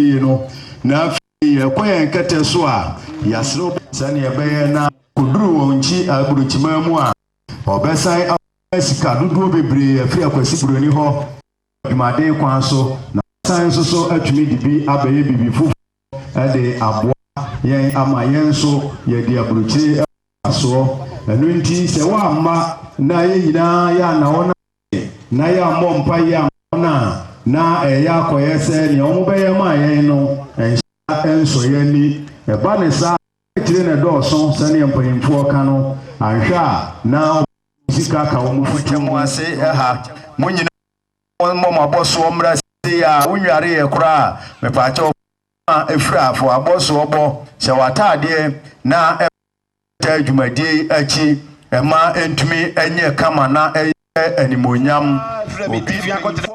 yie no, na afei yɛkɔ yɛn kɛtɛ so a, yɛaserew bɔ sɛnea ɛbɛyɛ na koduru wɔn nkyi aburokyimaa mu a, wɔbɛsan akɔnya sika dodoɔ bebree afiri Akwasi Buroni hɔ wɔ adwumaden kwan so, na wɔasan nso so atumi de bi abɛyɛ biribi foforɔ de aboa yɛn ama yɛn nso yɛadi aburokyire ho mfasoɔ. Ɛno nti, sɛ woamma na yɛn nyinaa yɛanna wɔn a. na yɛammɔ mpaeɛ amma wɔn a na ɛreyɛ akɔyɛ sɛ nea wɔbɛyɛ maa yɛn no nhyɛ nsɔ yɛn ani. Ɛba no saa a, akyire na ɛdɔɔso sɛdeɛ mpanimfoɔ ka no, anhwɛ a na wɔbɛtumi sika aka wɔn fituo. Mogya mo ase ɛha. Mo nyinaa mommɔ mo abɔsoɔ mmra sei ara, wonwareeɛ koraa a, mepaakyɛw fa wo ho a firi a, fa w'abɔsoɔ bɔ, hyɛ w'ataadeɛ na taa dwumadie yi akyi mma ɛntumi nyɛ kama na ɛyɛ animuonyam. Frɛ me TV akɔtena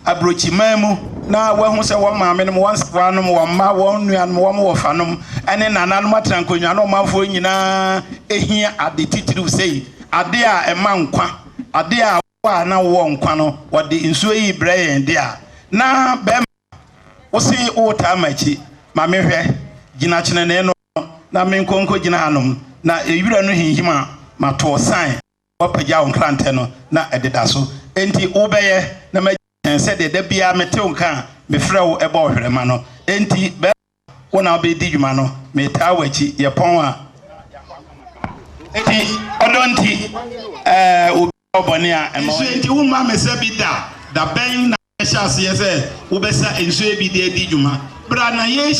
aburokyiman mu na woahu sɛ wɔn maamenom, wɔn nsewaanom, wɔn mma, wɔn nuanom, wɔn wɔfanom ne nananom atena nkonnwa no ɔmanfoɔ nyinaa hia ade titiriw sei, ade a ɛma nkwa, ade a wo a na wowɔ nkwa no wɔde nsuo yi brɛ yɛn de a na bɛrima wose woretaa m'akyi ma mehwɛ, gyina kyenenee no. na menkɔ nkogyina hanom na wira no hinhim a, mato wo sann. Woapagya wo nkrantɛ no, na ɛdeda so. Enti wobɛyɛ, na magye wo ahyɛn sɛdeɛ da biara mete wo nka a mefrɛ wo bɔ ɔhwerɛma no. Enti bɛrima, wo na wobɛdi dwuma no. Metaa w'akyi. Yɛpɔn a. Enti ɔdɔ nti, ɛɛ, obi a ɔyɛ bɔne a, mma ɔnyɛ. Nsuo nti, womma mesa bi da. Da bɛn na wobɛhyɛ aseɛ sɛ wobɛsa nsuo bi de adi dwuma? Bra na yɛnhyia.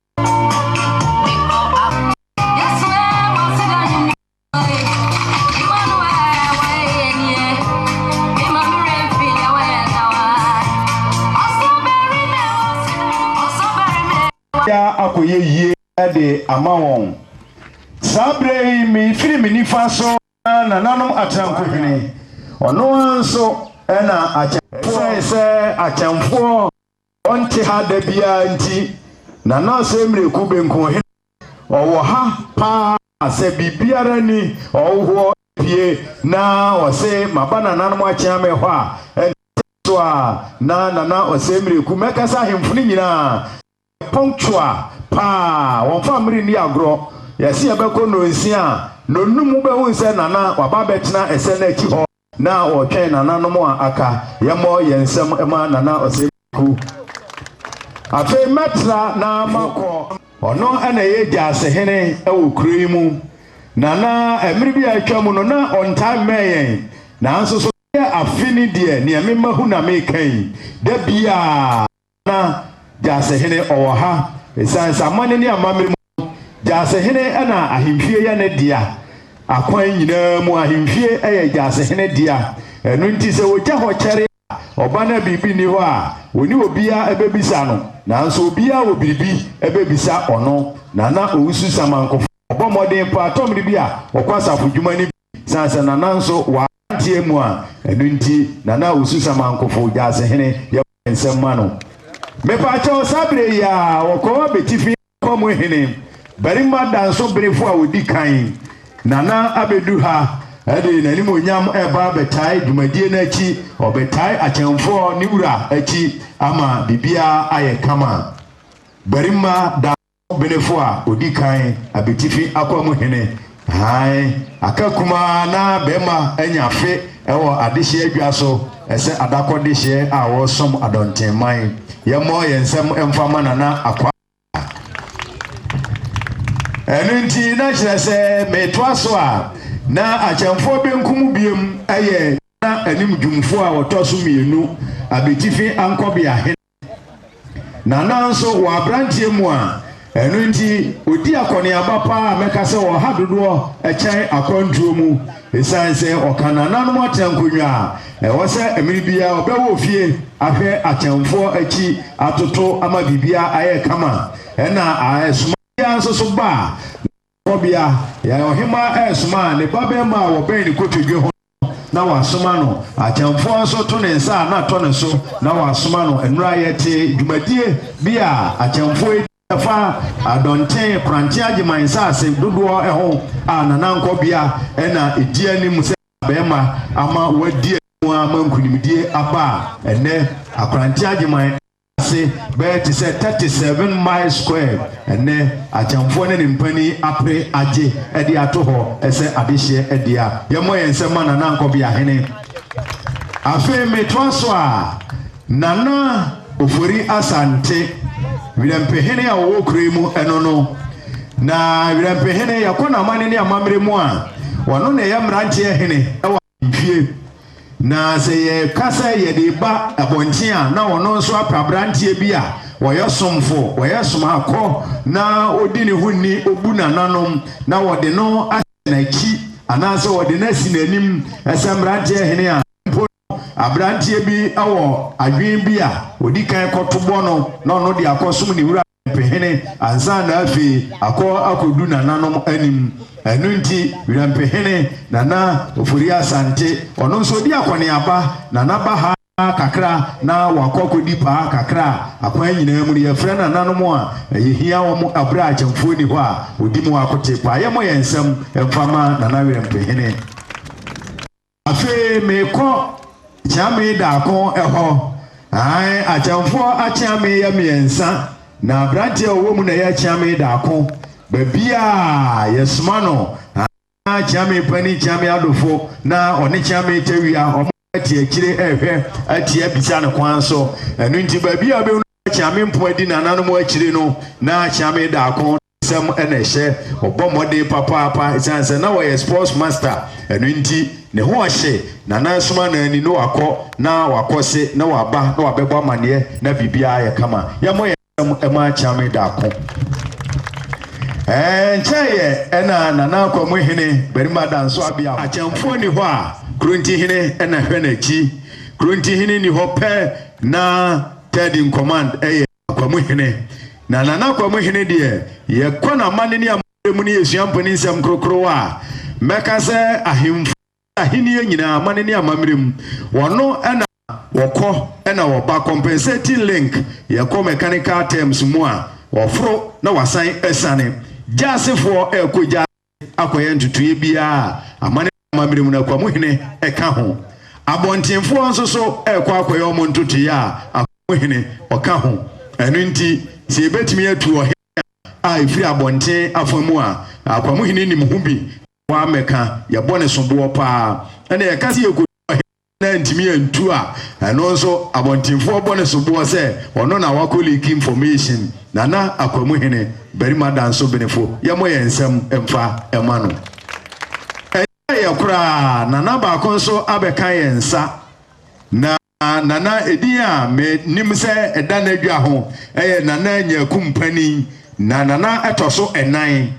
akɔyɛ yie de ama wɔn saa berɛ yi mefiri me nifa so na nananom akyɛnkohene ɔno ara nso ɛna akyɛnfoɔ sɛ akyɛnfoɔ Ɔnte ha da biara nti, na na ɔsɛ mmireku benkum he na ɔwɔ ha paa a, sɛ biribiara nni ɔwohoɔ pie na ɔse maba nananom akyea me hɔ a, ɛnte so a na Nana Ɔsɛe Mmireku mɛkasa ahemfo no nyinaa yɛ pɔnktoa paa, wɔmfa mmere nni agorɔ. Yɛse yɛbɛkɔ nnɔnsia a, nnɔnnum wobɛhu sɛ Nana waba abɛtena ɛsɛ no akyi hɔ. Na wɔtwɛn nananom a aka. Yɛmmɔ yɛn nsam mma Nana Ɔsɛmdiko. Afei mɛtra na makɔ. Ɔno na ɛyɛ gyasehene wɔ kuro yi mu. Nana, mmere bi a atwa mu no, na ɔntaa mmɛn yɛn. Nanso so ɛyɛ afe ni deɛ, nea mema hu na meka yi, da biara. na Gyasehene ɔwɔ ha. Esiane sɛ amanne ne amammerɛ mu no, Gyasehene na ahemfie yɛ ne dea. Akwan nyinaa mu, ahemfie yɛ Gyasehene dea. Ɛno nti, sɛ ogya hɔ kyɛre a, ɔba no a biribi nni hɔ a, ɔne obiara bɛbisa no. Nanso obiara wɔ biribi bɛbisa ɔno. Nana Owusu Samankofa, ɔbɔ mmɔden paa tɔmmere bi a ɔkɔ asafodwuma no bi. Esiane sɛ Nana nso wɔ aberanteɛ mu a, ɛno nti Nana Owusu Samankofo, Gyaasehene, yɛbɔ yɛn nsam ma no. Mepakyɛw, saa berɛ yi ara, wɔkɔɔ abɛtifi afa mu hene, barima dansoberefo a ɔdi kan. Nana abɛdu ha de n'animuonyam reba abɛtae dwumadie no akyi, ɔbɛtae akyɛmfoɔ ne wura akyi ama biribiara ayɛ kama. Barima da. Benefo a odi kan abetifi akwamu hene Hann aka kumaa na bɛrima anya afe wɔ adehyeɛ adwa so sɛ adakɔ dehyeɛ a wɔresom adɔntenman. Yɛmmɔ yɛn nsam mfa mma Nana Akua Atta. Ɛno nti na kyerɛ sɛ metoa so a, na Akyɛmfoɔ Benkum Biem yɛ Ghana animdwumfoɔ a ɔtɔ so mmienu abetifi ankɔbea hene. Na nanso wɔ aberanteɛ mu a, ɛno nti ɔdi akɔneaba paa a mɛka sɛ ɔha dodoɔ kyɛn akwantuo mu ɛsiane sɛ ɔka nananom atenankonnwa a ɛwɔ sɛ mmere biara ɔbɛwɔ fie ahwɛ akyɛmfoɔ akyi atoto ama biribiara ayɛ kama ɛna ɛsoma biara nso so ba a na ɔkɔbea yɛn ɔhemaa ɛresoma ne babarima a wɔbɛn ne kotodwe ho na wɔasoma no, akyɛmfoɔ nso to ne nsa a na atɔ ne so na wɔasoma no. Nnora yɛte dwumadie bi a akyɛmfoɔ di ɛfa Adɔnten Koranten Agyeman nsaase dodoɔ ho a Nana Nkɔbea na ɛdi anim sɛ barima ama wɔadi anim ama nkunimdie aba a ɛnnɛ Akoranten Agyeman ase bɛyɛ te sɛ 37 miles squared. Ɛnnɛ, akyɛmfoɔ ne ne mpanin apere agye de ato hɔ sɛ adehyeɛ dea. Yɛmmɔ yɛn nsam mma Nana Nkɔbea Hene. Afei metoa so a, Nana Ofori Asante, Werɛmpehene a ɔwɔ kuro yi mu, ɛno no. Na Werɛmpehene, yɛkɔ n'amane ne amammerɛ mu a, ɔno na ɛyɛ mmeranteɛ hene wɔ. Due. Na sɛ yɛka sɛ yɛde reba abɔnten a, na ɔno nso apɛ aberanteɛ bi a ɔyɛ somfo, ɔyɛ somaakɔ, na ɔdi ne ho ni, ɔbu nananom, na ɔde no ahyɛ n'akyi, anaasɛ ɔde no asi n'anim. Sɛ mmeranteɛ hene a, mpo no, aberanteɛ bi wɔ adwene bi a, ɔdi kan kɔtobɔ no, na ɔno de akɔsom ne wura. Wirampehene ansa na afei akɔ akɔdu nananom anim. Ɛno nti Wirampehene, Nana Ofori Asante, ɔno nso ɔdi akɔneaba na n'aba ha kakra na wakɔ akɔdi paa kakra a akwan nyinaa mu no yɛfrɛ nananom a yɛhia wɔn berɛ a akyɛmfoɔ nni hɔ a wɔdi mu akotee paa. Yɛmmɔ yɛn nsam mfa ma Nana Wirampehene. Afei meekɔ kyeame daako hɔ. Ae, akyɛmfoɔ akyeame yɛ mmiɛnsa, na aberanteɛ a ɔwɔ mu na ɛyɛ kyeame daako. Baabiara yɛsoma no, na kyeame panin, kyeame adofo, na ɔne kyeame tawia, wɔte akyire rehwɛ atia bisa no kwan so. Ɛno nti, baabiara wobɛhunu na kyeame mpoa di nananom akyire no, na kyeame daako nsɛm na ɛhyɛ ɔbɔ mmɔden papaapa ɛsiane sɛ na ɔyɛ sports master ɛno nti ne ho ɔhye na na soma na ani na wakɔ na wakɔ se na waba na wabɛbɔ amaneɛ na biribiara yɛ kama yɛmmɔ yɛ nsɛm ɛma kyame daako ɛɛ nkyɛn yɛ ɛna nana akwa mu hene barima da nso abea akyɛmfoɔ ni hɔ a kronti hene ɛna hwɛ n'akyi kronti hene ni hɔ pɛ na third in command ɛyɛ Akwamu Hene. Na Nana Akwamu Hene deɛ, yɛkɔ n'amanne ne amammerɛ mu ne yɛsua mpanin nsɛm korokorowa a, mɛka sɛ ahemfo ne ahennie nyinaa amanne ne amammerɛ mu, wɔno na wɔkɔ na wɔba, compensating link, yɛkɔ mechanical terms mu a, wɔforo na wɔasan asiane. Gyasefoɔ ɛrekɔ gyaase. akɔyɛ ntotoeɛ biara a amane ne amammerɛ mu no akwamu hene ka ho. Abɔntenfoɔ nso so rekɔ akɔyɛ wɔn ntotoeɛ a akwamu hene ɔka ho. Ɛno nti, sɛ yɛbɛtumi atu ɔhene a a ɛfiri abɔnten afa mu a akwamu hene nim ho bi na wammɛka, yɛbɔ no soboɔ pa ara na yɛka sɛ yɛkɔtu ɔhene. na antumi antu a, ɛno nso abɔntenfoɔ bɔ ne soboɔ sɛ ɔno na wakɔ leaki information. Nana Akwamuhene, barima da nso benefo, yɛmmɔ yɛn nsam mfa mma no. Ɛnkyɛeɛ koraa Nana baako nso abɛka yɛn nsa, na Nana edin a menim sɛ ɛda n'adwa ho yɛ Nana Nyaku Mpanin, na Nana ɛtɔ so nnan.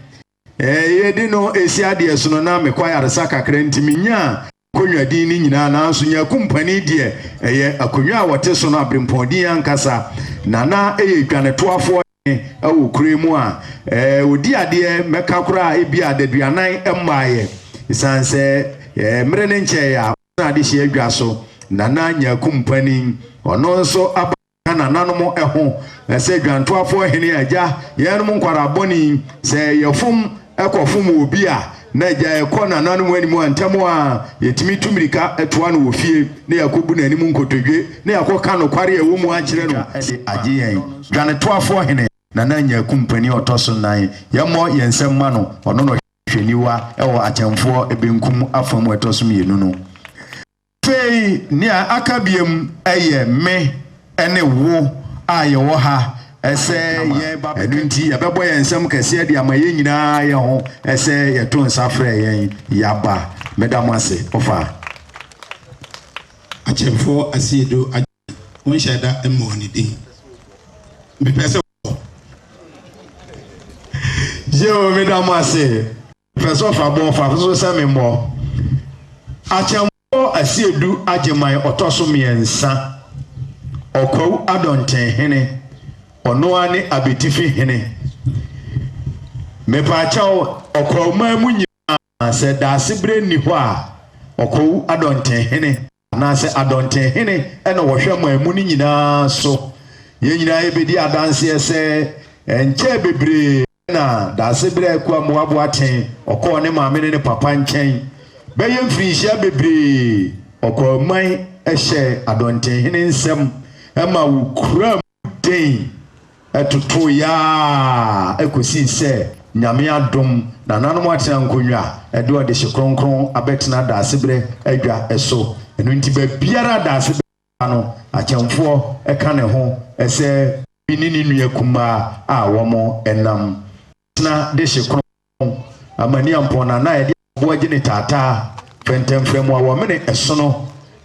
Yɛde no resi adeɛsono na mekɔ ayaresa kakra nti menyaa Konnwa din no nyinaa, nanso Nyaku Mpani deɛ, ɛyɛ akonnwa a wɔte so no abirempɔn din ankasa, na na ɛyɛ dwanetoafoɔ hene wɔ kuro yi mu a ɔdi adeɛ mmɛka koraa ebia adaduanan mmaaeɛ. Ɛsiane sɛ mmerɛ no nkyɛeɛ a ɔtenaa adehyeɛ adwa so, Nana Nyaku Mpani, ɔno nso aba. na nananom ho na sɛ dwantoafoɔ hene agya yɛnom nkwaraa bɔne sɛ yɛfom ɛkɔfom obi a na agya ɛkɔ nananom anim a ntɛm a yɛtumi tu mirika ɛtoa no wɔ fie na yɛakɔbu n'anim nkotodwe na yɛakɔka nokware a ɛwɔ mu akyerɛ no de agye yɛn dwanetoafoɔ hene Nana Nyaku mpanin ɔtɔ so nan yɛmmɔ yɛn nsam ma no ɔno na ɔhwɛ niwa ɛwɔ atɛmfoɔ benkum afa mu ɛtɔ so mmienu no. Afei nea aka biom ɛyɛ me ne wo a yɛwɔ ha ɛsɛ yɛn ba ɛno nti yɛbɛbɔ yɛn nsam kɛseɛ de ama yɛn nyinaa yɛ ho ɛsɛ yɛto nsa frɛ yɛn yaba meda mo ase ɔfa Akyemfoɔ Asiedu Adjei wonhyɛɛ da mmɔɔ ne din mepɛ sɛ wobɔ. Yeo meda mo ase. Pɛ sɛ ɔfa bɔ ɔfa so sɛ me mmɔ. Akyɛmfoɔ Asiedu Agyeman ɔtɔ so mmiɛnsa, Ɔkwawu Adɔnten hene, ɔno ara ne Abetifi hene. Mepaakyɛw, Ɔkwawuman mu nyinaa, sɛ Daasebrɛ nni hɔ a, Ɔkwawu Adɔnten hene. Anaasɛ Adɔnten hene na wɔhwɛ ma emu no nyinaa so? Yɛn nyinaa yɛbɛdi adanseɛ sɛ ɛnkyɛɛ bebree na Daase berɛ a Akua Mmoaboa tee ɔkɔɔ ne maame ne ne papa nkyɛn. Bɛyɛ mfirinhyia bebree ɔkɔɔ man hyɛɛ Adɔnten hene nsam ma wɔkuraa mu. Dɛn? Ɛtotoo yɛa kosii sɛ Nyame adom nananom atena nkonwa a ɛde ɔdehye kronkron abɛtena Daasebrɛ adwa so. Ɛno nti baabiara a Daasebrɛ ba no akyɛmfoɔ ka ne ho sɛ obi ne ne nua kumaa a wɔnam tena dehye kronkron Amania mpɔnna na ɛde aboa gyene taataa, fɛntɛmfrɛm mu awɔmene ɛsono,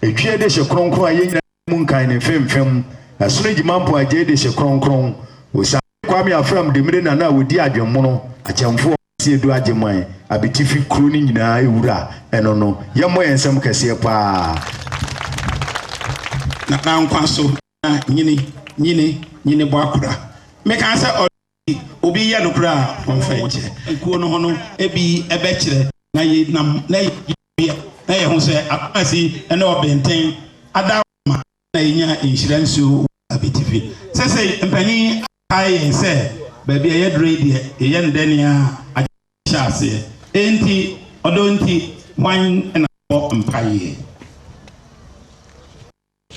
etwie de hye kronkron a yɛnyina mu nkan ne mfemfem, ɛsono gyima mpɔn agyei de hye kronkron. Osiane Kwame Afram Dimire na na ɔdi adwemmono, akyɛmfoɔ kɛseɛ Adu Agyemang Abitifi kuro no nyinaa wura ɛno no, yɛmmɔ yɛn nsam kɛseɛ paa. Nana Nkwa so, Nana, nyini, nyini, nyini bɔ akora. Meka sɛ ɔdɔ. obi yɛ nokorɛ a wɔmfa nkyɛ ekuo no ho no bi bɛkyerɛ na yɛ nam na yɛ biɛ na yɛ ho sɛ akomasi ne ɔbenten ada ma na yɛnya nhyira nsuo wɔ abitifi sɛsɛi mpanin akae yɛn sɛ baabi a yɛdurɔ yi deɛ yɛyɛ no dɛ nea agye hyɛ aseɛ enti ɔdɔ nti hwan na bɔ mpaeɛ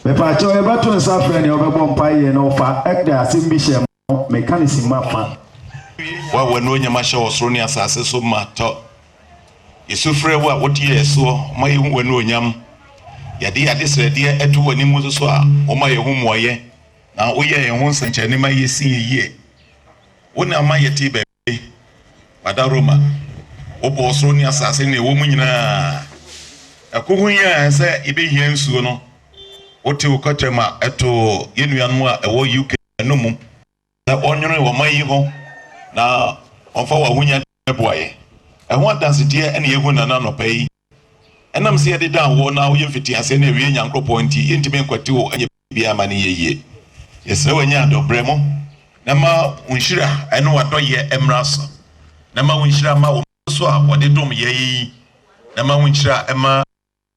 Mepakyɛw yɛbɛto nsa frɛ nea ɔbɛbɔ mpae yɛ na ɔfa ɛkda asɛm bi hyɛ mo meka ne simma fa. Wo a w'anuonyam ahyɛ ɔsoro ne asase so ma tɔ. Yesu frɛ wo a wote yɛn soɔ ma yɛhu w'anuonyam. Yɛde yɛn adesrɛdeɛ to w'anim nso so a woma yɛn ho mmuaeɛ na woyɛ yɛn ho nsɛnkyerɛnne ma yɛsi yɛn yie. Wo na ama yɛte baabi. Ame, Mada Roma. Wobɔɔ soro ne asase ne nea ɛwɔ mu nyinaa. Ɛko ho hia yɛn sɛ yebehia nsuo no. Wote wo kɔkyerɛ ma ɛtoo yɛn nuanom a ɛwɔ UK no mu sɛ wɔnnwene ɔman yi ho na wɔmfa wɔn ahonyade mmɛboa yɛn. Ɛho adansedie na yɛrehu nnɛ no anɔpa yi. Ɛnam sɛ yɛde dan wɔ na woyɛ mfitiaseɛ ne awiei Nyankoropɔn nti, yɛntumi nkwati wo nyɛ biara ma no nyɛ yie. Yɛsrɛ wo nya dɔ brɛ mu na ma wo nhyira ne w'adɔyɛ mmra so na ma wo nhyira mma wo mma so a wɔde dom yɛn yi na ma wo nhyira mma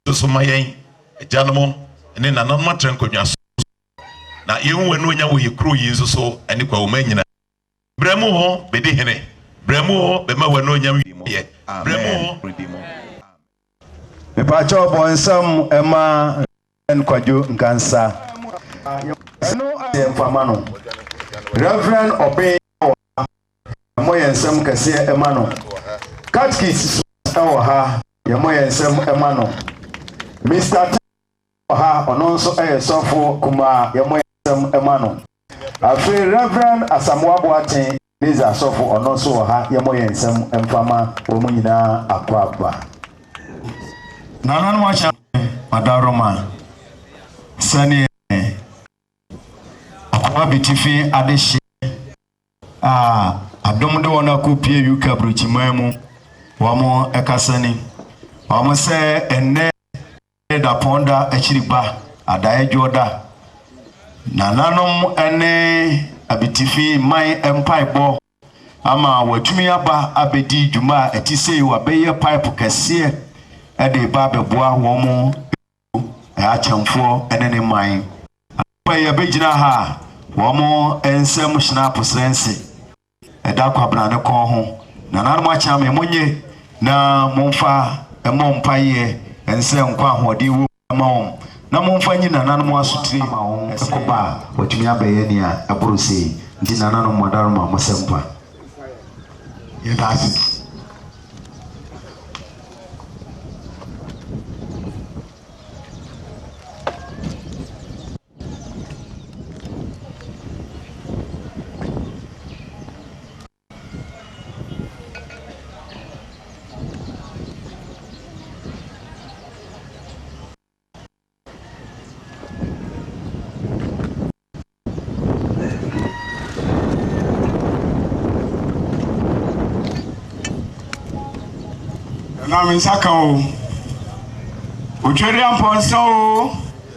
yɛn so ma yɛn agyanom ne nananom atra nkonnwa so na yɛhu w'anuonyam wɔ yɛn kuro yi nso so ne Kwawu man nyinaa. Brɛ mo ho bɛdi hene. Brɛ mo ho bɛma w'anuonyam wieɛ. Brɛ mo ho bɛdi mo. Mepakyɛw bɔ nsam ma Rev. Kwadwo Nkansah. Ɛno ayɛ mfama no. Rev. Obeng wɔ ha. Yɛmmɔ yɛn nsam kɛseɛ ma no. Catkist Suas wɔ ha. Yɛmmɔ yɛn nsam ma no. Mister Taye. ha ɔno nso yɛ sɔfo kumaa yɛmmɔ yɛn nsɛm ma no afei Rev Asamoah Boateng Meza sɔfo ɔno nso wɔ ha yɛmmɔ yɛn nsɛm mfa ma wɔn nyinaa akɔ aba nananom ahyɛ ɔdawroma sɛneɛ akɔ abitifi adehyeɛ a adom de wɔn akɔ pie yuka burukyiman mu wɔn ɛkasani wɔn sɛ ɛnnɛ Ne dapɔn da akyiri ba adaedwoɔ da. Nananom ne abitifi mman mpaebɔ ama wɔatumi aba abɛdi dwuma a ɛte sei, wɔabɛyɛ pipe kɛseɛ de reba abɛboa wɔn mu akyɛmfoɔ ne ne mman. Anɔpa yi yɛbɛgyina ha a wɔn nsam hyena aposrɛnse. Ɛda Kwabena ne kɔn ho. Nananom akyea me, monnye na momfa mmɔ mpaeɛ nsɛ nkɔ ahoɔden wɔ mu mma wɔn, na momfa nyi nananom asotire ma wɔn ɛkoba a wɔatumi abɛyɛ nea ɛboro sei. Nti nananom Mɔdaroma, mo sɛ nkwa. Yɛda ase. Nam nsa ka o. Otweri ampɔnsa o.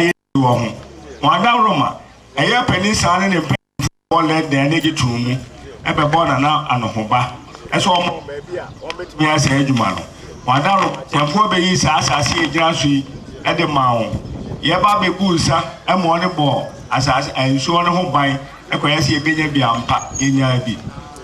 yɛn wɔ ho. Wɔn adaworoma, ɛyɛ panin saa ne ne mpanyimfo bɛbɔ lɛdɛn ne gye tom mu bɛbɔ Nana Anohoba sɛ ɔmmɔ wɔn baabi a wɔbɛtumi ayɛ saa adwuma no. Wɔn adaworoma, Kyɛmfoɔ bɛyii saa asase a ɛgyina so yi de maa wɔn. Yɛba bɛbuu nsa ma wɔde bɔɔ asase, ɛɛ, nsuo no ho ban kɔyɛ sɛ yɛbɛnya bi ampa. Yɛnyaa bi.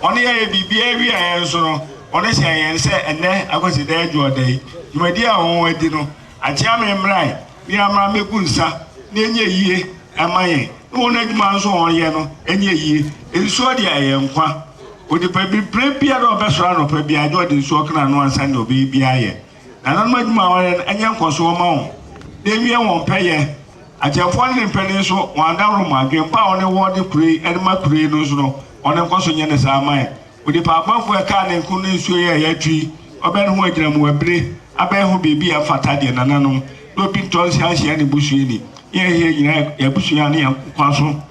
Wɔn yɛɛ biribiara wieɛ yɛn nso no, wɔhyɛɛ yɛn sɛ ɛnnɛ akwasidaa adwuɔda yi, dwumadie a wɔadi no, Akyea me mmrae ne amra mmegu nsa na ɛnyɛ yie ɛma yɛn ne wɔn adwuma nso wɔn yɛ no ɛnyɛ yie. Nsuo deɛ ɛyɛ nkwa. Onipa bi berɛ biara a ɔbɛsɔre anɔpa biara gye ɔde nsuo ɔka n'ano ansa deɛ ɔbɛyɛ biara yɛ. Nananom adwuma a wɔn yɛ no ɛnyɛ nkɔsoɔ mma wɔn na ɛwie wɔn pɛ yɛ. Akyɛmfoɔ ne ne mpanin nso wɔn adaworo mma. Adwene pa a wɔn wɔ de kuro yi ɛde ma kuro yi no nso no wɔn nkɔso nyɛ ne saa mma yɛn. Onipa abɔfoɔ a ɛkaa ne nko no nsuo yɛɛ ya tui, ɔbɛn ho agyinamu abire, abɛn ho biribi a ɛfata deɛ nananom, na obi ntɔ nsa nhyia ne busuani. Yɛn he nyina yɛ yɛn abusua ne yɛn nkwa so.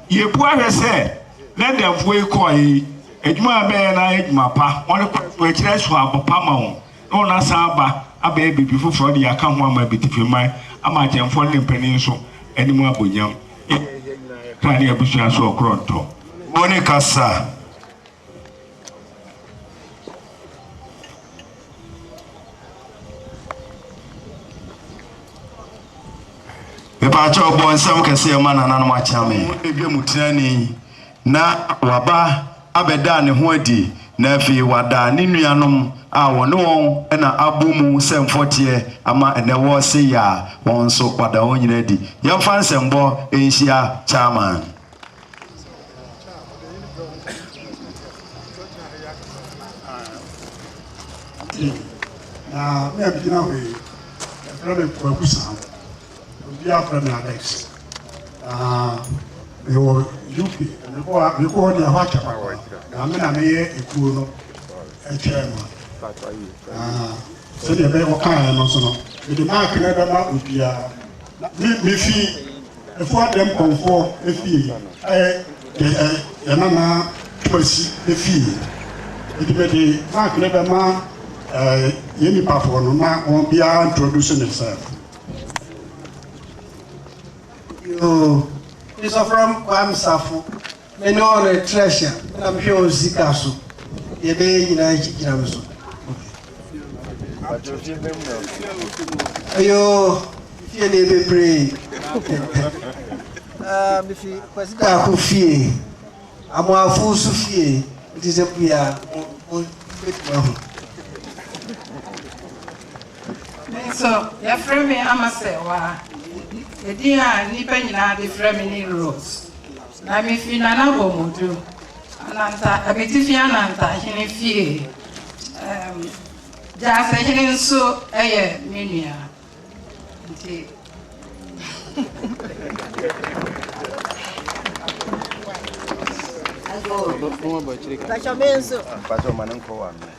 Yɛbua hwɛ sɛ, na adamfoɔ yi kɔɔe yi, adwuma a ɛbɛyɛ no ayɛ adwuma pa, wɔn kwan mu akyiri so abɔ pa ma wɔn. na wɔn asan aba abɛyɛ biribi foforɔ de yɛaka ho ama abitifi man, ama akyɛmfoɔ no ne mpanin nso anim abɔ nyam. Yɛn a yɛhia nyinaa yɛ kra ne abusua so ɔkorɔntɔ. Mo ne kasa. Mepaakyɛw bɔ nsɛm kɛseɛ ma nananom akyea me. Mo ne dwam tirani. na waba abɛdaa ne ho adi, na afei wada ne nuanom a wɔne wɔn na abɔ mu sɛ mfɔteɛ ama ɛnnɛ wɔrese yɛ a, wɔn nso wada wɔn nyinaa adi. Yɛmfa nsɛmbɔ nhyia Chairman. Na me a megyina hɔ yi, yɛfrɛ me Kwaku Saho. Obiara frɛ me Alex. Ah, mewɔ UK. Mekɔ a mekɔ hɔ deɛ ɛhɔ akyɛ papa. Na me na meyɛ ekuo no ɛkyɛɛ ma. Ah, sɛdeɛ ɛbɛyɛ wɔkaeɛ no nso no, mede mark no bɛma obiara. Me mefi Efua Dɛm Kɔmfoɔ efie ɛyɛ yɛ yɛ yɛ nana Twumasi efie. Eti mede mark no bɛma ɛɛ yɛn nipafoɔ no na wɔn biara introduce ne self. Yoo, Christopher Kwame Safo, me ne wɔn retrɛhyɛ, me na mehwɛ wɔn sika so, deɛ ɛbɛyɛ nyinaa akyi gyina me so. Yoo, fie ne bebree. Ah, mefi Kwasi Daako fie, Amoafo nso fie, nti sɛ bia mo bɛtumi ahu. Me nso, wɔafrɛ me ama sɛɛwaa. Edin a nnipa nyinaa de frɛ me ne Rut, na mifi Nana Bomodu, Ananta, Abitifi Ananta hene fie. Um, Gyase hene nso yɛ me nua. Nti. Pacho menso. Pacho manen ko wa me.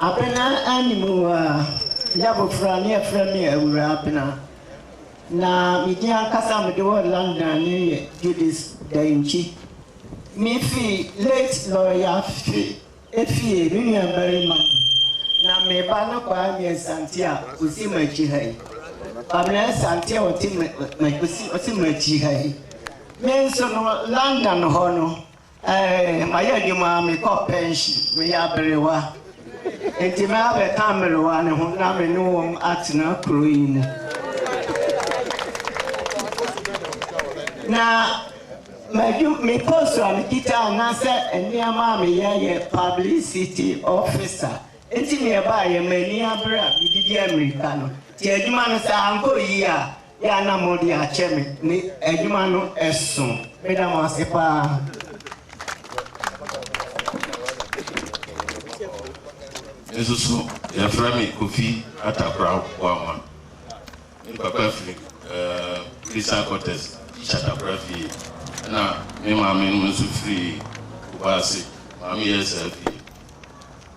Abena anni mu a, meyɛ abofra na wɔfrɛ me Awuraa Abena, na me din ankasa a mede wɔ London no yɛ Judith Dankyi. Mifi late Lawyer Afe fie, me nuabarima mu, na me ba no Kwame Asante a ɔsi m'akyi ha yi. Pamela Asante a ɔte m'akyi ha yi. Me nso no, London hɔ no, Eeii mayɛ adwuma a mekɔ pɛnhyen, meyɛ aberewa nti mɛ abɛka mmerewa no ho na me ne wɔn atena kuro yi mu. Na m'adwu me post a mekita anaasɛ nneɛma a meyɛ yɛ publicity officer nti neɛ ɛbaeɛ m'ani abere a medidi ammirika no nti adwuma no sɛ ankɔ yie a Yɛ a na mode akyɛ me ne adwuma no so. Meda mo ase paa. Me nso so yɛfrɛ me Kofi Atakraw Boamah. Me papa firi Christian Quarters, Shatakra fie, ɛna me maame no nso firi Kumasi, Maame Yɛsɛɛ fie.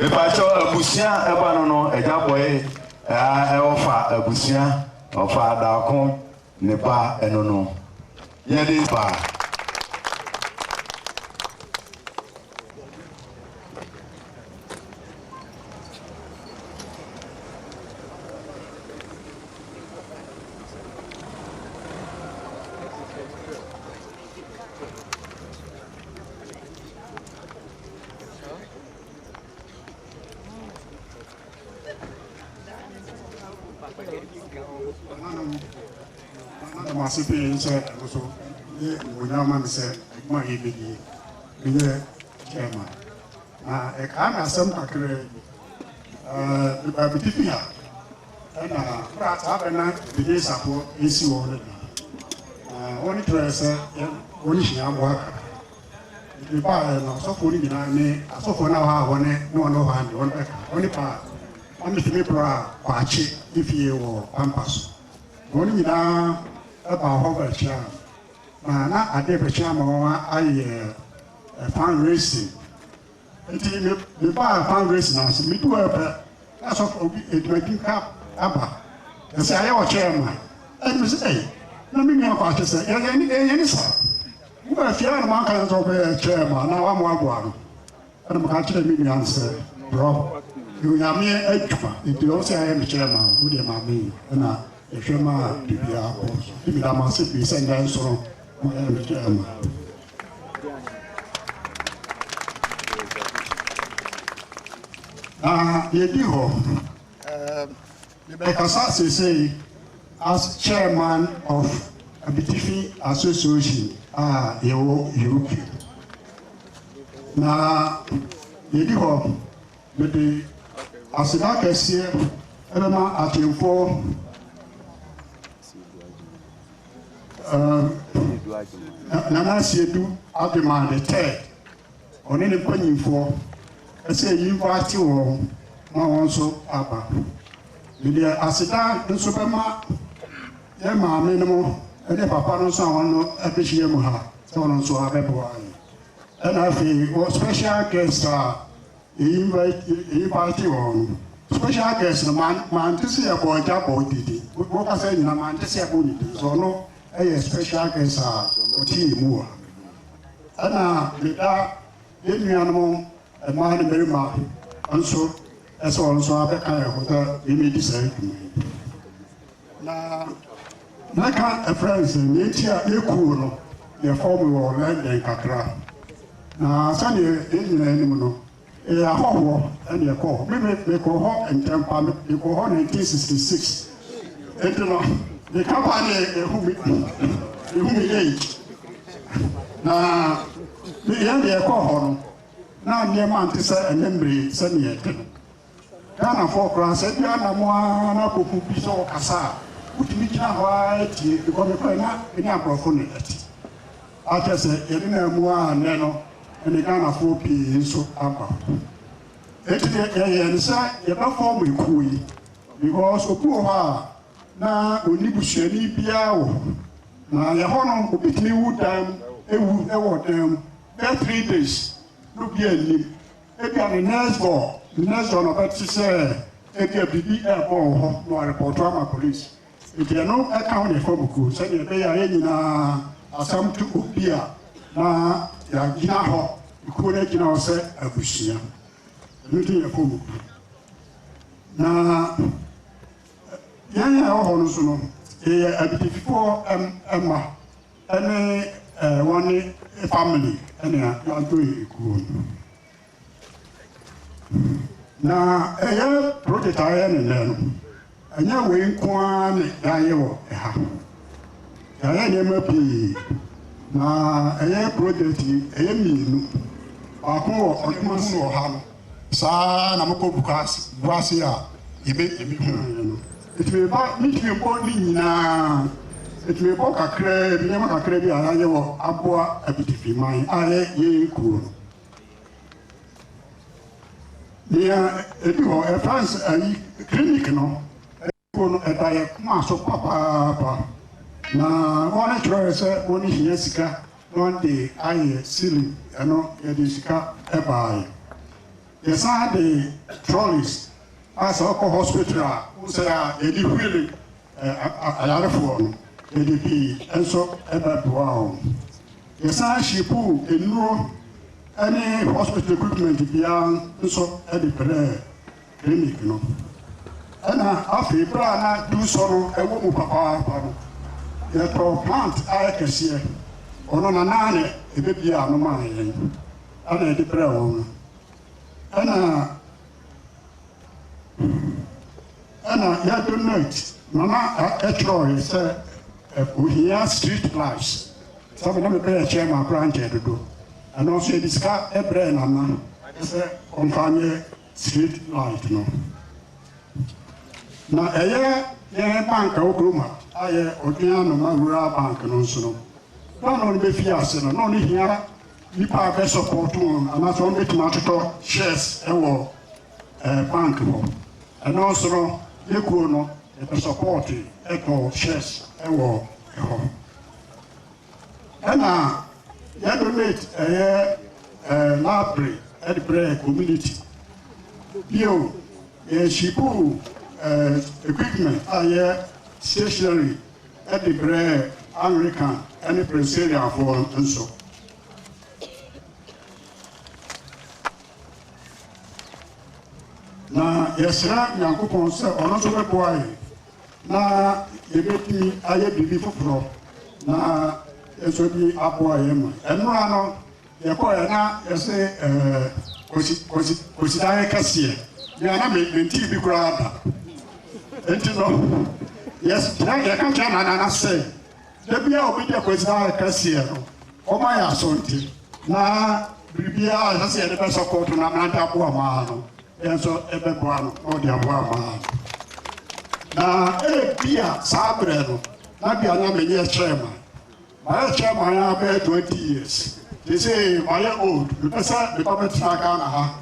Mepakyɛw abusua ɛba no no agya bɔe ɛa ɔfa abusua ɔfa adako ne ba ɛno no yɛde ba. Madam ase pii nkyɛ ɛno so ne mmonyam ma me sɛ adwuma a yɛbɛdie menyɛ chairman na ɛkaa me asɛm kakra meba mede bi a ɛna bra saa bɛ na mede safoɔ ɛsi wɔ no da na wɔne kyerɛ sɛ wɔne hyia aboa kakra Mede baeɛ no, asɔfoɔ no nyinaa ne asɔfoɔ no a wɔwɔ hɔ ne wɔn a wɔwɔ ha deɛ, wɔbɛka. Wɔn baa na metumi braa Kwakye ne fie wɔ Pampa so. Wɔn nyinaa baa hɔ bɛkyeaa me, na na adeɛ rebɛkye ama wɔayɛ fundraising Ntsi me mebaa fundraising n'ase, meduu hɔ pɛ na sɔfo bi edwumadzi ka aba bɛsɛ ayɛ ɔkyɛɛ ma ɛnna mese ei na me nua kwaa kyesɛ yɛyɛ ne yɛyɛ ne saa wobaa fie ana manka ne sɛ wobɛyɛ kyɛɛ ma na wama waboa no ɛnna meka kyerɛ me nua no sɛ brɔ onyameɛ adwuma nti ɔwo sɛ ayɛ me kyɛɛ ma wodeɛ ma me ɛnna ɛhwɛ ma biribiara kɔ so nti meda mo ase pii sɛ nnɛ nso no moyɛ me kyɛɛ ma Na yɛdi hɔ. Mebɛkasa seesei as chairman of Abitifi Association a yɛwɔ UK. Na yɛdi hɔ, mede aseda kɛseɛ bɛma atemfoɔ. Err Nana Asiedu Agyemang the third, ɔne ne mpanyimfoɔ sɛ yinvaate wɔn ma wɔn nso aba. Mede aseda nso bɛma yɛn maame nom ne papa no nso a wɔn no abɛhyia mu ha sɛ wɔn nso abɛboa yɛn. Ɛna afei wɔ special guest a. Eyi ba eyi ba gye wɔn no. Special guest no man mante sɛ yɛbɔ agya bɔ didi. Wɔka sɛ nyina mante sɛ yɛbɔ ne din. So ɔno ɛyɛ special guest a ɔte yɛ mu wɔ ha. Ɛna meda yɛn nuanom mmaa ne mmarima nso ɛsɛ wɔn nso abɛka yɛn ho sɛ yɛmɛdi saa dwuma yi. Na mɛka akyerɛ no sɛ nea enti a yɛkuu wo no, yɛfɔɔ me wɔ London kakra, na sɛdeɛ yɛn nyinaa nim no, yɛyɛ ahɔhoɔ na yɛkɔɔ hɔ. Me me mekɔɔ hɔ ntɛmpa, me mekɔɔ hɔ 1966, enti no meka paa ne yɛhu me yɛhu me age. Na yɛn deɛ yɛkɔɔ hɔ no, na nneɛma nte sɛ ɛnnɛ mmere yi sɛdeɛ ɛte no. Ghanafoɔ koraa sɛ bi anam ara na akɔku bi sɛ ɔkasa a wotumi gyina hɔ ara tie because me koraa na me ne aborɔfo ne ɛte a kyerɛ sɛ yɛne naa mu a nnɛ no ɛne Ghanafoɔ pii nso aba hɔ ɛti deɛ yɛyɛ ne sɛ yɛbɛ form ekuo yi because obi wɔ hɔ a na ɔnni busuani biara wɔ hɔ na yɛ hɔ no obi tumi wu dan mu ewu ɛwɔ dan mu bɛ three days no bi anim Ebia the next door, the next door na ɔbɛte sɛ ebia biribi ɛrebɔ wɔ hɔ na warepɔto ama police. Nti ɛno ɛka ho na ɛfa mu kuo sɛdeɛ ɛbɛyɛ a yɛn nyinaa asɛm to obi a na yɛagyina hɔ, kuo no agyina hɔ sɛ abusua. Ɛno nti na ɛfa mu kuo. Na yɛn a ɛwɔ hɔ no nso no, yɛyɛ abidififoɔ mma. Ɛne eh wane eh family ɛnea yɛadɔe ekuo no. Na ɛyɛ project a yɛyɛ ne nnɛ no, ɛnyɛ wei nko ara ne yɛayɛ wɔ ɛha. Yɛayɛ nneɛma pii, na ɛyɛ project yi ɛyɛ mmienu, baako wɔ Ɔdoma so wɔ ha no, Saa ara na mokɔ gua ase a, yebe ebi ho. Enti meba, mintumi mbɔ ne nyina. Enti mebɔ kakraa bi, nneɛma kakraa bi a yɛayɛ wɔ aboa abitifi man a ɛyɛ yɛn kurow no. Nea edi hɔ, ɛfra ns ayi, clinic no. Mpo no, ɛda yɛn koma so papaapa. Na wɔn kyerɛɛ sɛ wɔn hia sika na wɔn de ayɛ ceiling, ɛno yɛde sika ɛbaaɛ. Yɛsan de trolleys a sɛ ɔkɔ hospital a wohu sɛ a yɛde wheel ayarefoɔ no yɛde pii nso ɛbɛboaa wɔn. Yɛsan shipuu nnuro ɛne hospital equipment biara nso ɛde brɛɛ. Clinic no. Ɛna afei berɛ a na Dusɔ no wɔ mu papaapa no, yɛtɔɔ plant a ɛkɛseɛ. Ɔno na na na ɛbɛbie ano ma yɛn a na yɛde brɛɛ wɔn no. Ɛna ɛna yɛ donate mama ɛtwerɛɛ yɛ sɛ ohia street lights sɛbi na mebɛyɛ chairman koraa nkyɛ dodo. Ɛno nso yɛde sika brɛɛ Nana sɛ ɔmfa nyɛ Street light no na ɛyɛ yɛn bank a okurom a ayɛ odwen ano ma rural bank no nso no na ɔno bɛfi ase no na ɔno hia nipa a bɛ support wɔn anaasɛ wɔn bɛtumi atotɔ shares ɛwɔ ɛɛ bank hɔ ɛno nso no ne kuo no ɛbɛ support ɛtɔ shares ɛwɔ ɛhɔ. Ɛna yɛ donate ɛyɛ ɛɛ library ɛde brɛ community. Bio yɛ shipu ɛɛ equipment a yɛ stationary ɛde brɛ Anglican ɛne Presbyterianfoɔ nso. Na yɛsrɛ Nyankopɔn sɛ ɔno nso bɛboa yɛ na yɛbɛtumi ayɛ biribi foforɔ na nso bi aboa yɛn ma. Ɛnora no, yɛkɔɛ na yɛse kɔsidaeɛ kɛseɛ, mea na mentii bi koraa da. Enti no, yɛka kyerɛ nanana sɛ, da bi a obi deɛ kɔsidaeɛ kɛseɛ no, ɔma yɛ asɔnti na biribiara a ɛsɛ sɛ yɛde bɛsɔpɔto no aberante aboa maa no. Yɛn nso yɛbɛboa no na ɔde aboa ama yɛn. Na ebia saa berɛ no, na bia na menyɛ chairman. Mayɛ chairman ara bɛyɛ 20 years. Seesei mayɛ old, mepɛ sɛ meba bɛtena Ghana ha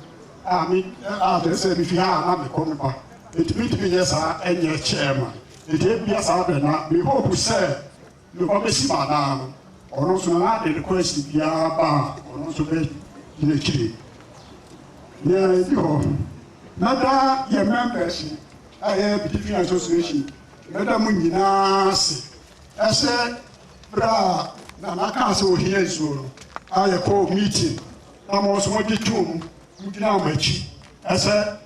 a me a kyerɛ sɛ mefi ha a na mekɔ meba. Enti mentumi nyɛ saa nyɛ chairman. Enti ebia saa berɛ na me hope sɛ no kɔbɛsi ba daa no, ɔno nso na ade rekɔ asi biara ba a ɔno nso bɛdi akyire. Yɛ bi hɔ, na daa yɛ members a yɛ Bitifi Association, mɛda mo nyinaa ase. Ɛsɛ berɛ a Nana kaa sɛ ohia nsuo no, a yɛkɔɔ meeting na mo nso mogye too mu, mogyinaa m'akyi. Ɛsɛ,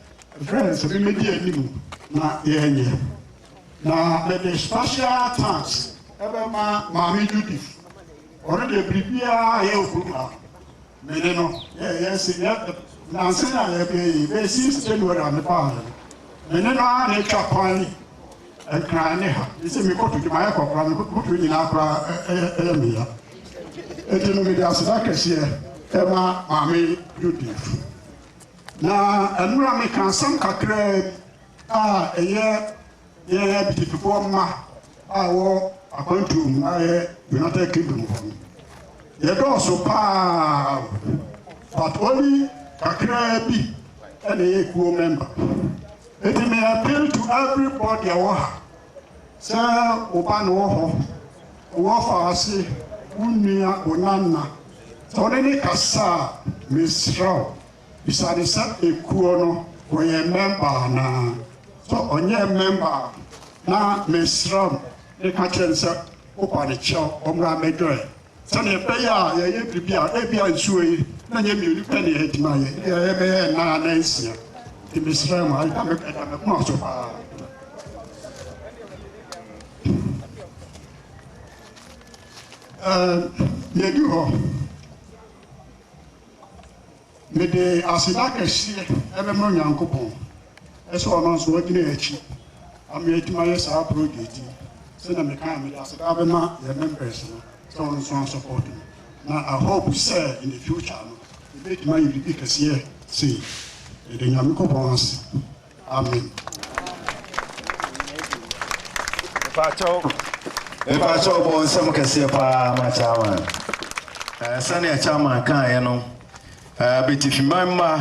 ɛfrɛ no sɛ memmɛdi anim na yɛnyɛ. Na mede special thanks bɛma Maame Judith, ɔno deɛ biribiara a yɛwɔ kurom ha no, me ne no yɛyɛ se yɛ nansa yi a yɛbɛyɛ yi, bɛyɛ since January a mebaa ha yi, me ne no ara na ɛtwa kwan yi, Nkran ne ha, me se mekɔ Tokyo, mayɛ kɔ koraa, me botiri nyinaa koraa ɛyɛ me ya. Enti no mede aseda kɛseɛ ɛma Maame Judith. Na ɛno a meka asɛm kakraa bi, a ɛyɛ yɛn abitikifoɔ mma a ɛwɔ akwantuo mu a ɛyɛ United Kingdom hɔ no, yɛdɔɔso paa but only kakraa bi ɛna ɛyɛ kuo member. Eti me appeal to everybody a wɔ ha sɛ wo ba no wɔ hɔ, wɔ fa ase, wo nua, wo nana, sɛ wo ne ne kasa a, mesrɛ wo. Bisane sɛ ekuo no wɔyɛ mɛmba anaa sɛ ɔnyɛ mɛmba a na mesrɛm ne ka kyerɛ no sɛ woba ne kyɛw ɔmmra mɛdwɛɛ sɛdeɛ ɛbɛyɛ a yɛyɛ biribi a ebia nsuo yi na nyɛ mmienu pɛ ne yɛdi ma yɛ ebia yɛbɛyɛ nnan anaa nsia nti mesrɛ mo ɛda me ɛda me koma so paa ɛɛ yɛdi hɔ. Mede aseda kɛseɛ bɛma Onyankopɔn sɛ ɔno nso wagyina yɛn akyi ama yɛatumi ayɛ saa project yi. Sɛdeɛ mekaeɛ no, mede aseda bɛma yɛn members no sɛ wɔn nso asupporto me. Na I hope sɛ in the future no, yɛbɛtumi ayɛ biribi kɛseɛ sei. Meda Nyankopɔn ase. Amen. Mpakyɛw, mpakyɛw bɔ nsɛm kɛseɛ paa ma Chairman. Eh, sɛnea Chairman kaeɛ no, eh, bɛtifiman mma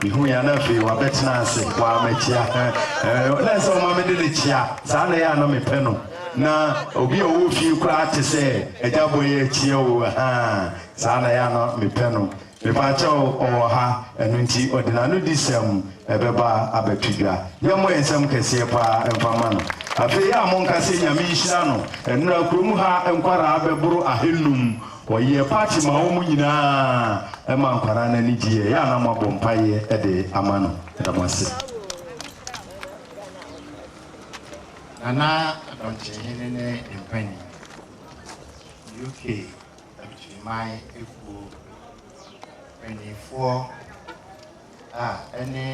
mehu yɛn na afei wabɛtena ase waamakyia eh, na sɛ ɔma mede ne kyia saa na yɛ a na mepɛ no na obi a ɔwɔ fie koraa te sɛ agya bɔ yɛ akyia o saa na yɛ a na mepɛ no Mepaakyɛw, ɔwɔ ha, ɛno nti ɔde n'anodisɛm bɛba abɛto dwa. Yɛmmɔ yɛn nsam kɛseɛ paa mfa mma no. Afei a monka sɛ Nyame nhyira no, nnora kurom ha nkwaraa bɛboro ahannum. Wɔyɛ party ma wɔn nyinaa, ɛma nkwaraa no ani gye yɛ. Yɛ a na moabɔ mpaeɛ de ama no. Meda mo ase. Nana Adɔnkye Hene ne Mpanin, UK. Akyiriman Ekuo mpaninfoɔ a ɛne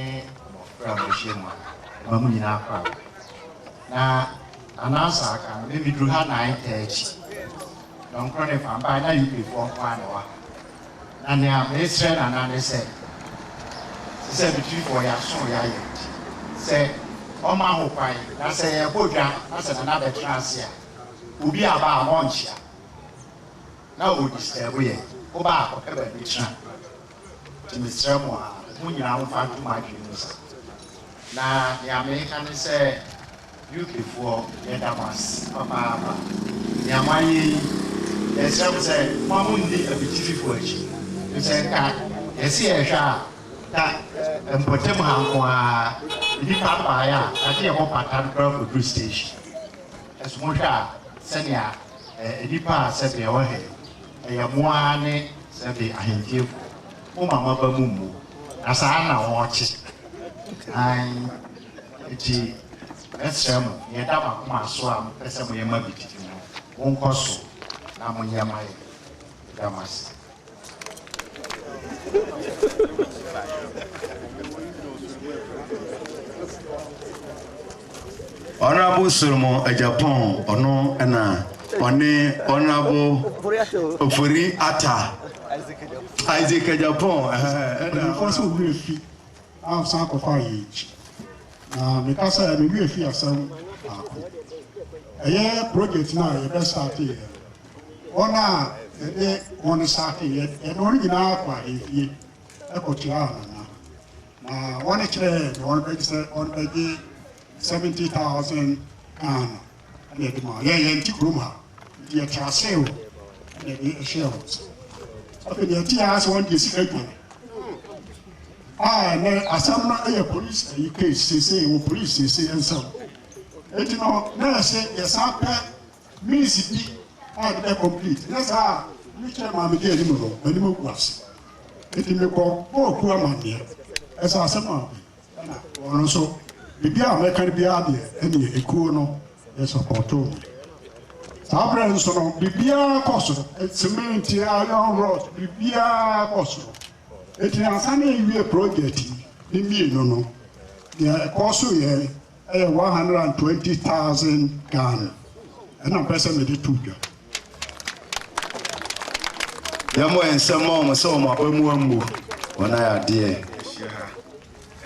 mmɔfra a wɔahyia mu a, ɛma mo nyinaa kɔ awo. Na anansa aka no, me meduru ha 9:30. Dɔnkoro ne fa mpae na UPfoɔ nko ara na ɛwɔ ha. Na nea mesrɛ Nana ne sɛ, te sɛ Abitirifoɔ yɛaso yɛayɛ nti, sɛ ɔma ho kwan na sɛ yɛrebɔ dwa na sɛ Nana bɛtena ase a, obi aba a monkyea. na wo disturb yɛn wo ba akɔpɛ baabi tra nti mesrɛ mo a mo nyinaa mo fa nto mo adwene mu sa na nea meka ne sɛ UK foɔ yɛda mo ase papaapa nea mo ayɛ yi yɛsrɛ mo sɛ mo mo nni abitifi foɔ akyi firi sɛ nka yɛse yɛhwɛ a nka mpɔtam ha nko ara nnipa baeɛ a na yɛbɔ pata no koraa kɔduru station. So wohwɛ a, sɛnea nnipa a sɛbe ɛwɔ ha yi, ɛyɛ mo ara ne sɛbe ahemfiefoɔ, moma mo aba mu mmu, na saa ara na wɔrekye? Aane. Enti mɛsrɛ mo, deɛ ɛda mo akoma so a mopɛ sɛ moyɛ ma bi tete no, monkɔ so na monyɛ ma yɛn. Yɛda mo ase. Honourable Solomon Agyapong ɔno na ɔne Honourable Ofori Atta Isaac Agyapong ɛna ɔno nso ɔwura fi a ɔsan akɔfa yɛ akyi na meka sɛ mewura fi asɛm baako ɛyɛ project no a yɛbɛ starte yɛ wɔn a yɛde wɔn nsa afei yɛ, yɛde wɔn nyinaa kɔ ahemfie kɔtuaa wɔn na, na wɔn kyerɛɛ deɛ wɔn bɛgye sɛ wɔn bɛgye seventy thousand Ghana ɛna yɛde ma yɛ yɛn ti kurom ha nti yɛte ase o ɛna yɛde ɛhyɛɛ wɔn nsa afei deɛ ɛte yɛ sɛ wɔn deɛ sika dwane a ɛnɛ asɛm no yɛ polisi ayi case sese wɔ polisi sese nsɛm eti no na yɛsɛ yɛsan pɛ Minutes bi a meda concrete, na saa a mekyerɛ maa me kaa anim no, m'anim agu ase. Enti mekɔ bɔɔ kuo amanneɛ. Ɛsɛ asɛm a ɔde, ɛna ɔno nso, biribi a mɛka no biara deɛ, ɛnneɛ ekuo no yɛ sɔpɔɔtoo me. Saa berɛ no nso no, biribiara kɔ so, cement, iron rod, biribiara kɔ so. Enti ansa na yɛawie project yi ne mmienu no, deɛ ɛkɔɔ so yɛ yɛ one hundred and twenty thousand Ghana ɛna mpɛ sɛ mede to dwa. Yɛmmɔ yɛn nsɛm ma wɔn sɛ wɔn aba mu ammu wɔn ayɛ adeɛ. Ahyia ha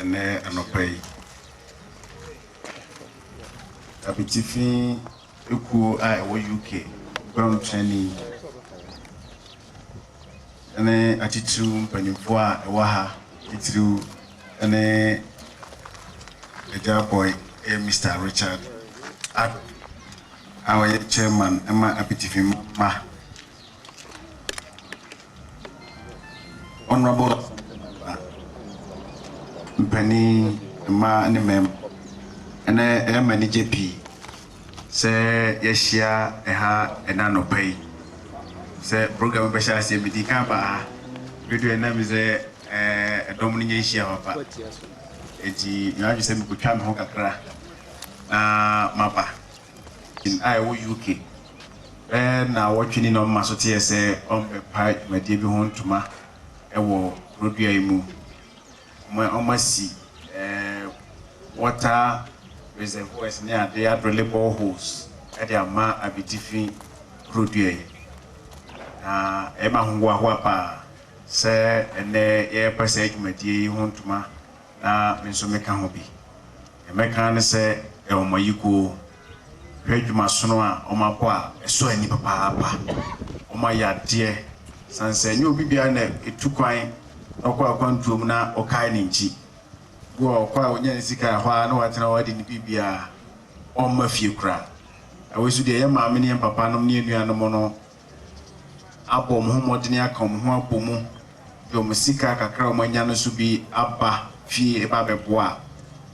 ɛnɛ anɔpa yi abitifi Ekuo a ɛwɔ UK Nkwahotuani ne atitiriw mpanimfoɔ a ɛwɔ ha titiriw ne Agya Boy yɛ Mister Richard Addo a ɔyɛ Chairman ma Apitifima mma. Honourable Assembly Member, mpanin mmaa ne mmarima, ɛnɛ ɛyɛ me anigye pii sɛ yɛahyia ɛha ɛnɛ anɔpa yi sɛ program bɛhyɛ aseɛ. Medi kan baa ha beduɛ na me sɛ ɛdɔm no nyɛ nhyia papa, eti mewɔ adwene sɛ mekɔtwa me ho kakra na maba. Commission a ɛwɔ UK bɛyɛ naawɔtwe ni na ɔma so teɛ sɛ ɔmbɛpae dwumadie bi ho ntoma wɔ kurodua yi mu. Ɔma ɔmasi water reservoirs ne ade, adrele boreholes de ama abitifi kurodua yi. Na ɛyɛ me ahohoahoa paa sɛ ɛnnɛ yɛrepɛ saa dwumadie yi ho ntoma Na me nso meka ho bi. Nea mɛka ara ne sɛ wɔn ayikuo, hwɛ dwumasono a wɔabɔ a ɛsɔ ani papaapa. Wɔayɛ adeɛ sane sɛ ɛnyɛ obi biara na ɛtu kwan na ɔkɔ akwantuo mu na ɔkae ne nkyi. Bi wɔ hɔ a ɔkɔ a ɔnya ne sika a ɛhɔ ara na watena hɔ adi ne biribiara, ɔmma fie koraa. Na wei nso deɛ yɛn maame ne yɛn papanom ne yɛn nuanom no, abɔ wɔn ho mmɔden aka wɔn ho abɔ mu de wɔn sika kakra a wɔanya no nso bi aba fie reba abɛboa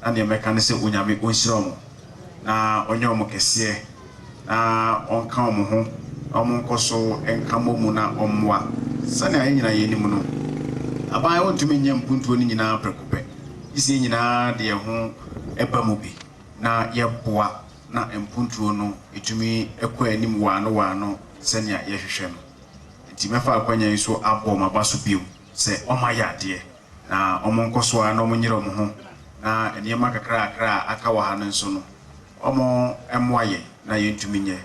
a, na deɛ mɛka ne sɛ Onyame ɔnhyira wɔn na ɔnyɛ wɔn kɛseɛ na ɔnka wɔn ho na wɔn nkɔ so nka mmɔ mu na ɔmmoa. Sɛnea yɛn nyinaa yɛnim no, aban wɔntumi nyɛ mpuntuo no nyinaa prɛko pɛ, gyesɛ yɛn nyinaa de yɛn ho ba mu bi na yɛboa. na mpontuo no tumi kɔ anim waano waano sɛnea yɛhwehwɛ no. Enti mɛfa akwanya yi so abɔ wɔn abaso bio sɛ wɔayɛ adeɛ, na wɔnkɔ so ara na wɔnyere wɔn ho, na nneɛma kakrakra a aka wɔ ha no nso no, wɔmmoa yɛn na yɛntumi nyɛ.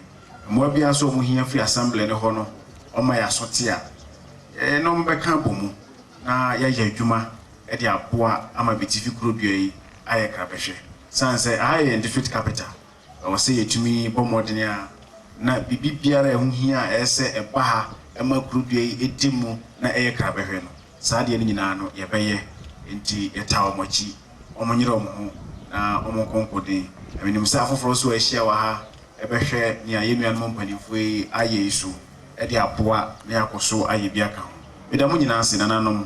Mmoa biara nso a wɔhia firi Assembly no hɔ no, wɔma yɛn aso te a, yɛn ne wɔn bɛka abɔ mu na yɛayɛ adwuma de aboa ama Bitifi Kurodua yi ayɛ krabɛhwɛ. Esiane sɛ ha yɛ Ndefit Capital, ɛwɔ sɛ yɛtumi bɔ mmɔden a na biribi biara a ɛho hia a ɛyɛ sɛ ɛba ha ma kurudua yi di mu na ɛyɛ krabɛhwɛ no, saa adeɛ no nyinaa no yɛbɛyɛ. Enti yɛtaa wɔn akyi, wɔnyere wɔn ho na wɔnkɔ nkoden. Na menim sɛ afoforɔ nso a ahyia wɔ ha bɛhwɛ nea yɛn nuanom mpanimfoɔ yi ayɛ yi so de aboa na yɛakɔ so ayɛ bi aka ho. Meda mo nyinaa ase, nananom.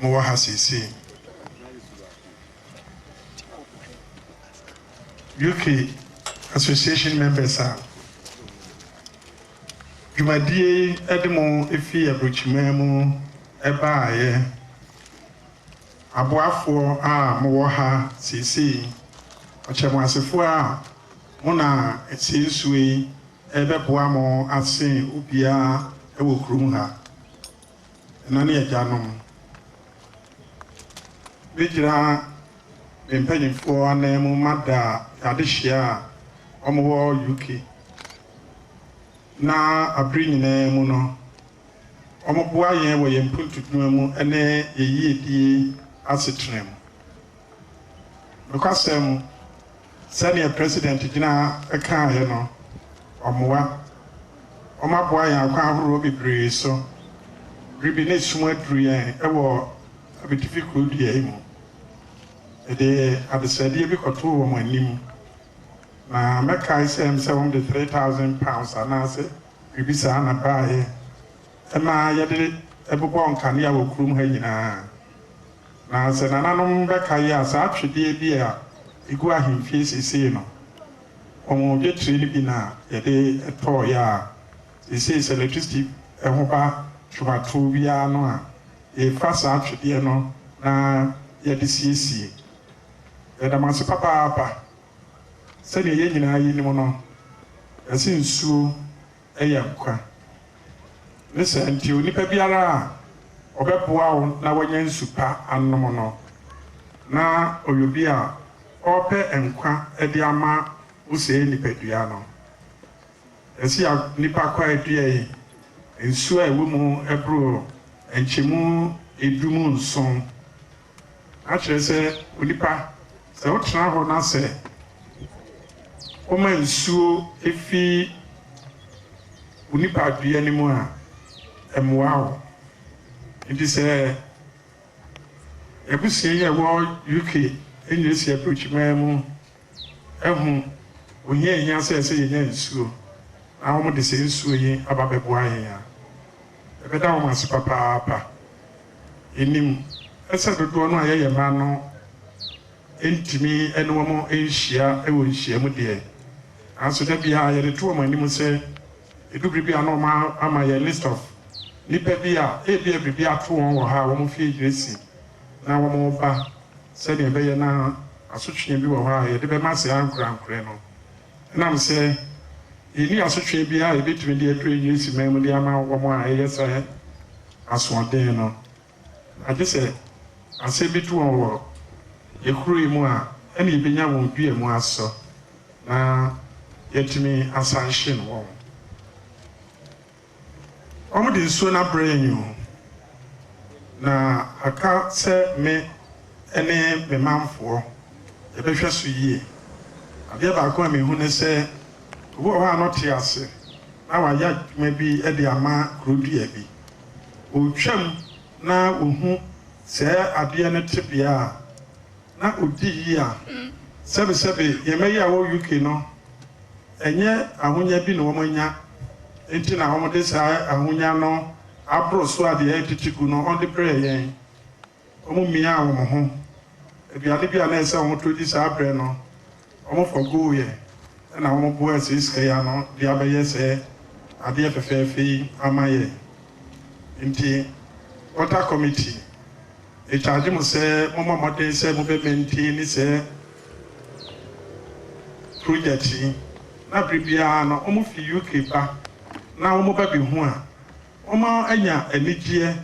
mowɔ ha seesei. UK Association members a dwumadie yi de mo firi aburokyiman mu baaeɛ, aboafoɔ a mowɔ ha seesei, ɔkyɛmoasefoɔ a mo na ɛsɛ nsuo yi rebɛboa mo asen obiara wɔ kurom ha. Ɛna ne agyanom bɛgyina me mpanimfoɔ anan mu ma da adehyeɛ a wɔwɔ UK, na abere nyinaa mu no wɔboa yɛn wɔ yɛn mpuntu dwuma mu ne yɛn yiedie asetena mu. Nokwasɛm mu, sɛdeɛ President Gyina ha kaaeɛ no, wɔmmoa. Wɔaboa yɛn akwan ahoroɔ bebree so. Bere bi na sum aduru yɛn wɔ Abitifi kuro dua yi mu. Mede adesrɛdeɛ bi kɔtoo wɔn anim, na mɛkae sɛ ɛm sɛ wɔde three thousand pounds anaase biribi saa na baeɛ. Ɛmaa yɛde bobɔɔ nkanea wɔ kurom ha nyinaa. Na sɛ nananom bɛka yi a, saa twedeɛ bi a ɛgu ahemfie seesei no, wɔn dwetire no bi na yɛde tɔeɛ a seesei sɛ lɛtrisiti ho ba twomatoɔ bi ara no a, yɛfa saa twedeɛ no na yɛde siesie. Yɛda mo ase papaapa. Sɛdeɛ yɛn nyinaa yinim no, yɛse nsuo yɛ nkwa. Ne saa nti, onipa biara a ɔbɛboa wo na woanya nsu pa anom no, na ɔyɛ obi a ɔrepɛ nkwa de ama wo sɛɛ nipadua no. Mesia nipa kwaa dua yi, nsu a ɛwɔ mu boro nkyɛmu edu mu nson. Akyerɛ sɛ, onipa, sɛ wotena hɔ na sɛ woma nsuo fi wo nipadua no mu a, ɛmmoa wo. Enti sɛ yɛn abusua yi a ɛwɔ UK nyina si aburokyiman mu, ho ohia a ehia sɛ sɛ yenya nsuo na wɔde saa nsuo yi aba bɛboa yɛn a, yɛbɛda wɔn ase papaapa. Yenim sɛ dodoɔ no a yɛyɛ mma no ntumi ne wɔn nhyia wɔ nhyiam deɛ, nanso da biara yɛde to wɔn anim sɛ, Edu bere bi a na wɔama yɛn list of nnipa bi a ebia biribi ato wɔn wɔ ha a wɔn fie yiri si na wɔreba sɛnea ɛbɛyɛ na asotwe bi wɔ hɔ a yɛde bɛma saa ankorankorɛ no. Ɛnam sɛ yenni asotwe biara a yebetumi de aduru ayiri si man mu de ama wɔn a ɛyɛ saa asoɔden no Agye sɛ asɛm bi to wɔn wɔ yɛn kuro yi mu a, ɛna yɛbɛnya wɔn dua mu asɔ na yɛatumi asanhyen wɔn. Wɔde nsuo no abrɛ yɛn o, na aka sɛ me ne me manfoɔ yɛbɛhwɛ so yie. Adeɛ baako a mehu ne sɛ, obi wɔ hɔ a na ɔte ase na wayɛ adwuma bi de ama kuro dua bi. Ɔretwam na ɔhu saa adeɛ no tebea a, na ɔdi yea. Sɛbesɛbe yɛn mma yi a wɔwɔ UK no, ɛnyɛ ahonya bi na wɔanya nti na wɔde saa ahonya no aboro so a deɛ ɛretete gu no wɔde brɛɛ yɛn. Wɔmiaa wɔn ho. Aduane bi a na ɛsɛ sɛ wɔtɔ di saa bere no, wɔfa guiɛ na wɔboa asiesiee ano de abɛyɛ sɛ adeɛ fɛfɛɛfɛ yi ama yɛn. Enti Water Committee, mekyagye mo sɛ mommɔ mmɔden sɛ mobɛmaintani saa projɛt yi, na bere biara no wɔfi UK ba na wɔba bɛhu a, wɔanya anigyeɛ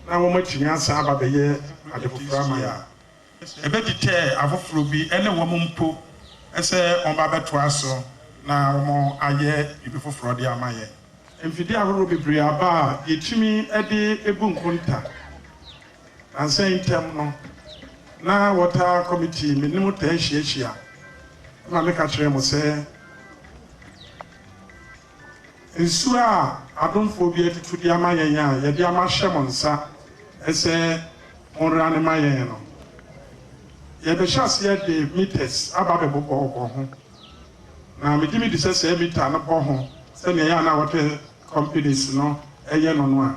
na wɔatu nyansa aba abɛyɛ ade foforɔ ama yɛn a, ɛbɛdetɛɛ afoforɔ bi ne wɔn mpo sɛ wɔba abɛtoa so na wɔayɛ biribi foforɔ de ama yɛn. Mfidie ahoroɔ bebree aba a yɛtumi de bu nkonta. Nansa yi ntam no, na wɔtaa kɔmiti, me ne mo taa hyiahyia. Ɛma meka kyerɛɛ mo sɛ, Nsuo a adomfoɔ bi atutu de ama yɛn a yɛde ama ahyɛ mo nsa sɛ monwera no ma yɛn no, yɛrebɛhyɛ aseɛ de metres aba abɛbobɔbobɔ ho. Na megye medi sɛ sɛ mita no bɔ ho sɛdeɛ ɛyɛ a na wɔtɛ companies no yɛ no no a,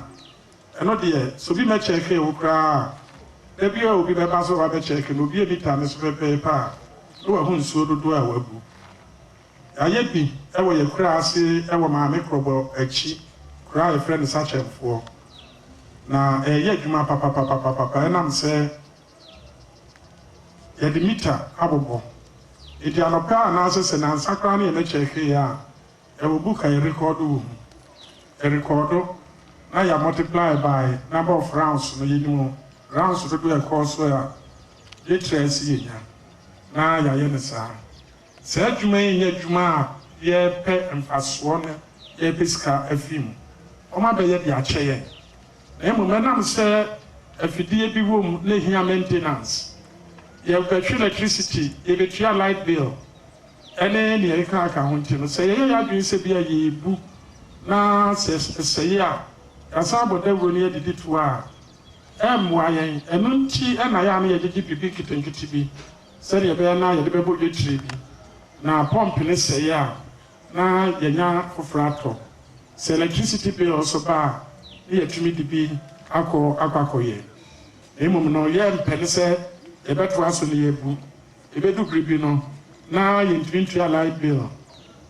ɛno deɛ sɛ obi mmɛkyɛɛkee wo koraa a, da biara a obi bɛba sɛ ɔreba abɛkyɛɛke no, obue mita no so pɛpɛɛpɛ a, na wahu nsuo dodoɔ a wagu. Yɛayɛ bi wɔ yɛn kura ase wɔ Maame Krɔbɔ akyi, kura a yɛfrɛ no Sakyɛmfoɔ. Na ɛreyɛ adwuma papapapapapa ɛnam sɛ yɛde mita abobɔ. Enti anɔpa anaasɛ sɛ nnansa koraa ne yɛn akyi ahwee a, yɛwɔ book a yɛrekɔɔdo wɔ mu. Yɛrekɔɔdo na yɛ multiply by number of rounds no, yɛnim rounds dodoɔ a ɛkɔɔ so a litres yɛnya, na yɛayɛ no saa. Saa adwuma yi nyɛ adwuma a yɛrepɛ mfasoɔ na yɛrepɛ sika afiri mu. Wɔn abɛyɛ de akyɛ yɛn. Na mmom ɛnam sɛ afidie bi wɔ mu na ɛhia maintenance. Yɛbɛhwe electricity, yɛbɛtua light bill ɛne nea ɛkekaka ho nti no, sɛ yɛyɛ yɛn adwene sɛ bia yɛrebu na sɛ ɛsɛe a, yɛasan abɔ dawuro no yɛdedi toɔ a, ɛremmoa yɛn. Ɛno nti na ɛyɛ a na yɛgyegye biribi nketenkete bi sɛdeɛ ɛbɛyɛ na yɛde bɛbɔ yetire bi, na pɔmp no sɛe a, na yɛanya foforɔ atɔ. Sɛ electricity bill nso ba a, na yɛatumi de bi akɔ akɔ akɔyɛ. Na mmom no, yɛmpɛ no sɛ yɛbɛtoa so na yɛabu. Ɛbɛdu bere bi no, na yɛntumi ntua light bill.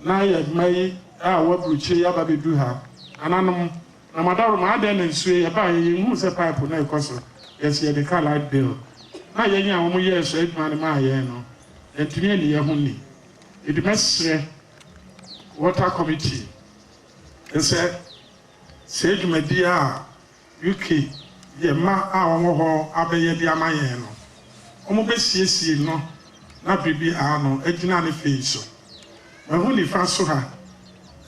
Na yɛn mma yi a wɔaburukyire yi aba abɛdu ha, nananom Na madaworo mu, adɛn na esue? Yɛbaeɛ, yɛnhuu sɛ pipe no rekɔ so, yɛse yɛde ka light bill, na yɛn a wɔyɛɛ so adwuma no maa yɛn no, yɛantumi anni yɛn ho nni. Enti mɛsrɛ Water Committee no sɛ, saa dwumadie a UK yɛ mma a wɔwɔ hɔ abɛyɛ de ama yɛn no, wɔbɛsiesie no na biribiara no agyina ne fei so. Mahu nifa so ha.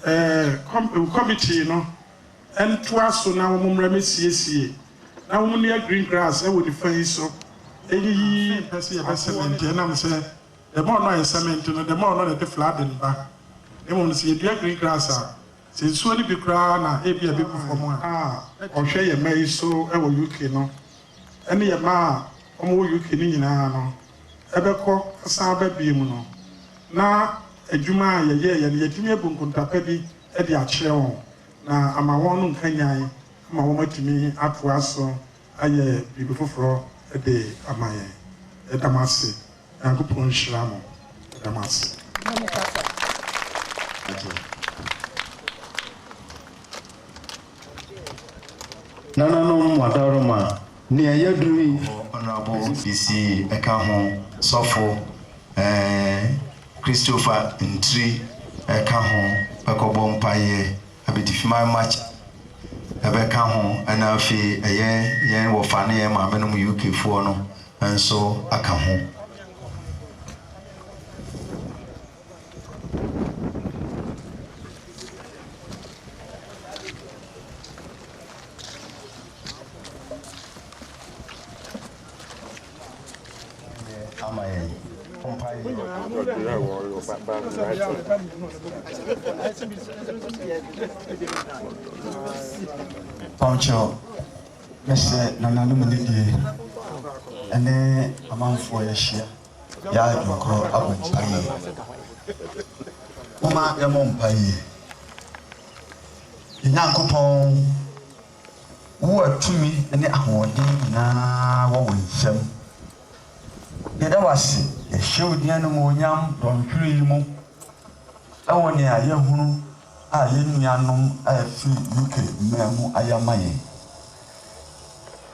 Ɛɛ, kɔm, kɔmitee no ntoa so na wɔmmra mmesiesie, na wɔnnua green grass wɔ nifa yi so. Eyiyi mpɛ sɛ yɛbɛ sɛmɛnte, ɛnam sɛ the more no a yɛsɛmɛnte no, the more no na ɛde flooding ba. Mmom no, sɛ yɛdua green grass a, sɛ nsuo no bi koraa na ebia ɛbɛgu fam a. A ɔhwɛ yɛn mma yi so wɔ UK no, ɛne yɛn mma a wɔwɔ UK no nyinaa no. ɛbɛkɔ asan aba biom no, na adwuma a yɛyɛeɛ no yɛatumi abu nkontapa bi de akyerɛ wɔn na ama wɔn nkanyan ma wɔn atumi atoa so ayɛ biribi foforɔ de ama yɛn. Yɛda mo ase. Nyankopɔn nhyira mo. Yɛda mo ase. Mɛmekasa. Agye. Nananom mmabarima, nea ɛyɛ duru yi, Ɔhonorable Isi ka ho, Sɔfo Christopher Ntri ka ho, bɛkɔbɔ mpaeɛ, Abitifiman Macha bɛka ho, ɛna afei ɛyɛ yɛn wɔfa ne yɛn maamenom UKfoɔ no nso aka ho. ama yɛn. Mpaebɔ. Pɔnkyɛw, mɛsɛ nananom anidie ɛne amanfoɔ yɛahyia. Yɛ adwenkoro abɔ mpaeɛ. Momma yɛmmɔ mpaeɛ. Yɛn Nyankopɔn, wo a tumi ne ahoɔden nyinaa wɔ wo nsam, yɛda wo ase, yɛhyɛ wo din animuonyam dɔnhwere yi mu wɔ nea yɛahunu a yɛn nuanom a ɛfiri UK mmaa mu ayɛ ama yɛn.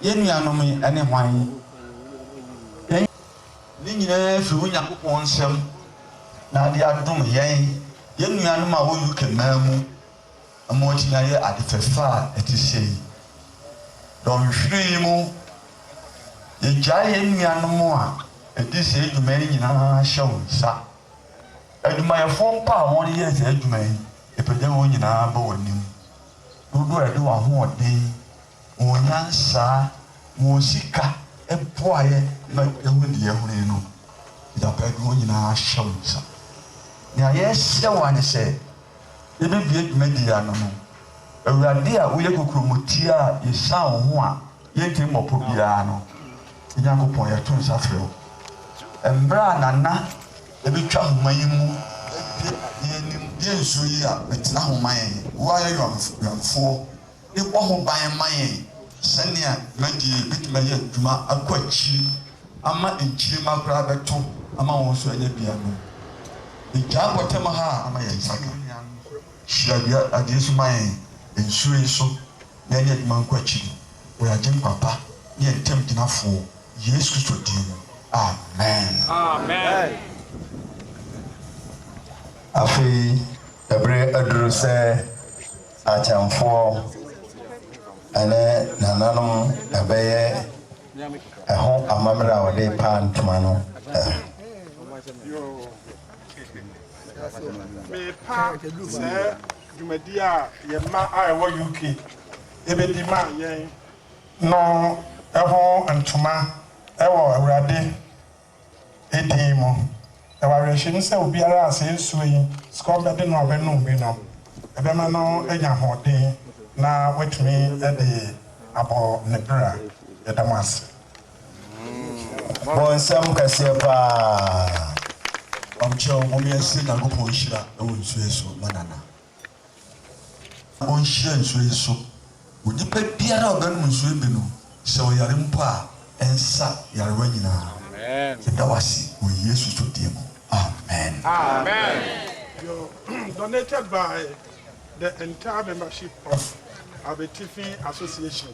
Yɛn nuanom yi ne hwan? Yɛn. Ne nyinaa firi Onyankopɔn nsam na ade adom yɛn. Yɛn nuanom a wɔ UK man mu ma wɔtumi ayɛ ade fɛfɛ a ɛte sei. Dɔnhwere yi mu, yɛgyae yɛn nuanom a ɛdi saa adwuma yi nyinaa hyɛ wo nsa. Adwumayɛfoɔ mpo a wɔyɛ saa adwuma yi, yɛpagya wɔn nyinaa ba w'anim. Dodoɔ a yɛde w'ahoɔden. Wɔn nyansa, wɔn sika boaeɛ ma yɛhunu deɛ yɛhunu yi no. Gyata de wɔn nyinaa ahyɛ wo nsa. Nea yɛsrɛ wo ara ne sɛ, yɛbɛbue dwumadie ano no, Awurade a woyɛ kokuromoti a yɛsan wo ho a yɛntumi mmɔ pɔ biara no, yɛn Nyankopɔn, yɛto nsa frɛ wo. Mmerɛ a Nana bɛtwa ahoma yi mu abue adeɛ anim. Yɛnsuo yi a, bɛtena ho ma yɛn. Wo ara yɛ wɛmfoɔ. no bɔ ho ban ma yɛn sɛnea dwumadie bɛtumi ayɛ adwuma akɔ akyiri ama nkyirimma koraa abɛto ama wɔn nso anya bi anom. Egya mpɔtam ha a ama yɛn nsa ka. Hyira dua adeɛ so ma yɛn nsuo yi so na ɛnyɛ adwuma nkɔ akyiri wɔ yɛn Agyenkwa pa ne yɛn Ntamgyinafoɔ Yesu Kristo din mu, amen. Afei ɛberɛ aduru sɛ Akyɛmfoɔ ne nananom bɛyɛ ɛho amammerɛ a wɔde repaa ntoma no. Merepa sɛɛ dwumadi a yɛn mma a ɛwɔ UK bɛdi ma yɛn no ho ntoma wɔ Awurade. Ne din mu. Ɛwɔ awerɛhyɛmu sɛ obiara a saa nsuo yi, scorn, bɛde no a ɔbɛnom bi no, ɛbɛma no anya ahoɔden na watumi de abɔ ne bra. Yɛda mo ase. Bonsam kɛseɛ paa. Ɔmkyɛw momyɛnsrɛ Nyankopɔn nhyira wɔ nsuo yi so ma Nana. na ɔnhyia nsuo yi so. Onipa biara a ɔbɛnom nsuo yi bi no, sɛ ɔyare mpo a, ɛnsa nyarewa nyinaa. Yɛda wo ase wɔ Yesu Kristo din mu, amen. Amen. Your donated by the entire membership of Abetifi Association.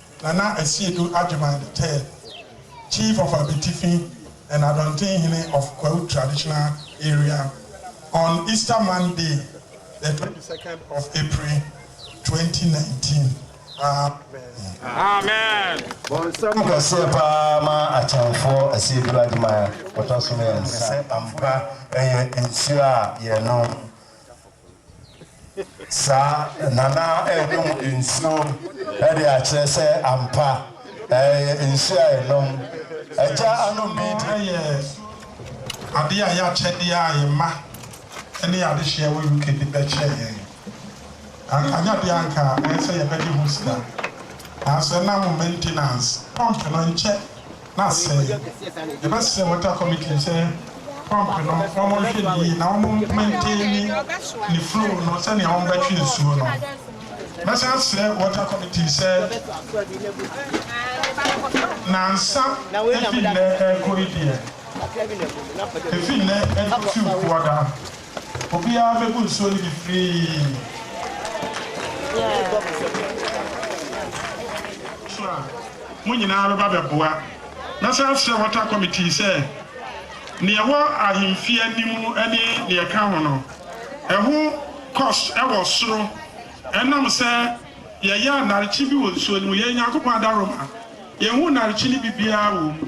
Nana Asiedu Agyemang the third, Chief of Abetifi and Adɔntenhene of Kwahu Traditional Area on Easter Monday the twenty second of April twenty nineteen. Amen. Bɔnsam kɛseɛ paa ma akyɛnfoɔ Asiedu Agyemang ɔtɔ so mmiɛnsa. Sɛ ampa ɛyɛ nsuo a yɛnom. Saa na na ɛrenom nsuo de akyerɛ sɛ ampa ɛyɛ nsuo a ɛnom. Agya anom bi di. Yɛ adeɛ a ɛyɛ akyɛdeɛ a yɛn mma ne yɛn adehyeɛ wɔ UK de bɛkyɛ yɛn. Anka nyɛ adeɛ a anka ɛyɛ sɛ yɛbɛgye ho sika. Nanso ɛnam maintenance, pump no nkyɛ na asɛe. Yɛbɛsrɛ Water Committee sɛ pump no wɔn nhwɛ no yie na wɔn maintaini ne flow no sɛnea wɔn bɛtwe nsuo no. Mɛsan asrɛ Water Committee sɛ nansa efi nnɛ ɛrekɔ yi deɛ, efi nnɛ ɛkɔ Fiw Kuada, Obiara bɛbu nsuo no bi firii. a mo nyinaa bɛba bɛboa. Mɛsan asrɛ Water Committee sɛ nea ɛwɔ ahemfie anim ne nea ɛka ho no, ɛho cost wɔ soro ɛnam sɛ yɛyɛ anarkye bi wɔ nsuo no mu. Yɛyɛ Nyankopɔn adaworoma. Yɛnhu narkye no bi biara wɔ mu.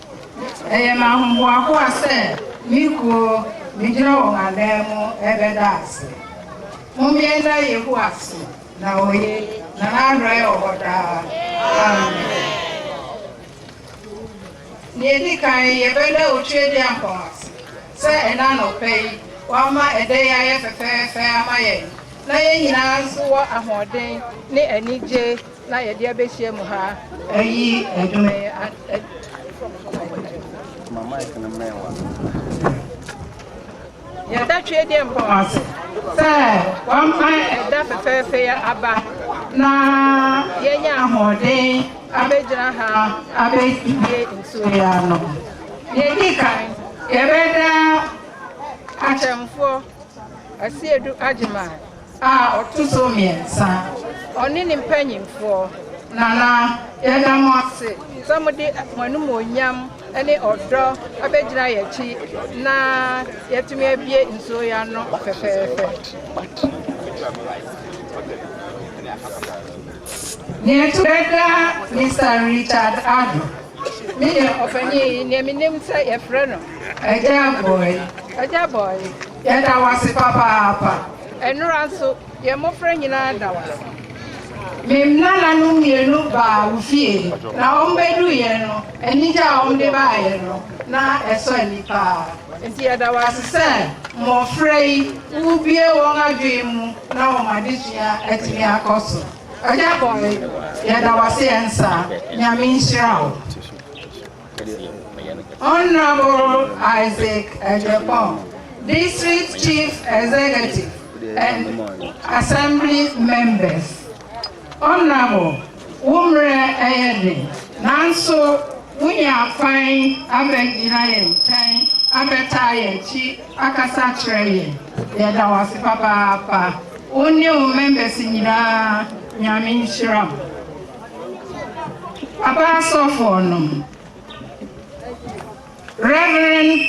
Ɛyɛ me ahohoahoa sɛ me kuo megyina wɔn ananmu rebɛda ase. Mommea nna Yehowa so, na ɔye, na n'adɔe wɔ hɔ daa. Amen. Nea edi kan, yɛbɛda Otuadiankpɔn ase sɛ ɛnnɛ anɔpa yi wama ɛda yi ayɛ fɛfɛɛfɛ ama yɛn, na yɛn nyinaa nso wɔ ahoɔden ne anigye. Na yɛde abɛhyia mu ha. Ayi dwom yi Ma mic no mmɛn w'ano. Yɛda Twedeɛmpɔn ase sɛ wama ɛda fɛfɛɛfɛ yi aba na yɛanya ahoɔden abɛgyina ha abɛdie nsuo yi ano. Deɛ ɛdi kan, yɛbɛda akyɛmfoɔ Asiedu Agyeman A ɔto so mmiɛnsa, ɔne ne mpanimfoɔ. Nana, yɛda mo ase sɛ mode mo animuonyam ne ɔdɔ abɛgyina yɛn akyi na yɛatumi abue nsuo yi ano fɛfɛɛfɛ. Nea ɛto da da, Mister Richard Addo, me ne. Ɔpanin yi, nea menim sɛ yɛfrɛ no. Agya Bɔe. Agya Bɔe, Yɛda wo ase papaapa. Nnora nso, yɛn mmofra nyinaa da wo ase. Me nananom mmienu baa wo fie, na wɔbɛduruiɛ no, anigye a wɔde baeɛ no, na ɛsɔ ani paa. Enti yɛda wo ase sɛ mmofra yi, wobue wɔn adwene mu na wɔn adesua atumi akɔ so. Ɔgya Bɔe, yɛda wo ase ɛnsa. Nyame nhyira wo. Honourable Isaac Agyapong, District Chief Executive and Assembly Members, Honourable, wo mmerɛ yɛ den nanso wonya kwan abɛgyina yɛn nkyɛn abɛtaa yɛn akyi akasa akyerɛ yɛn. Yɛda wo ase papaapa. Wo ne wo members nyinaa, Nyame nhyira mo. Papa Asɔfoɔ nom, Rev.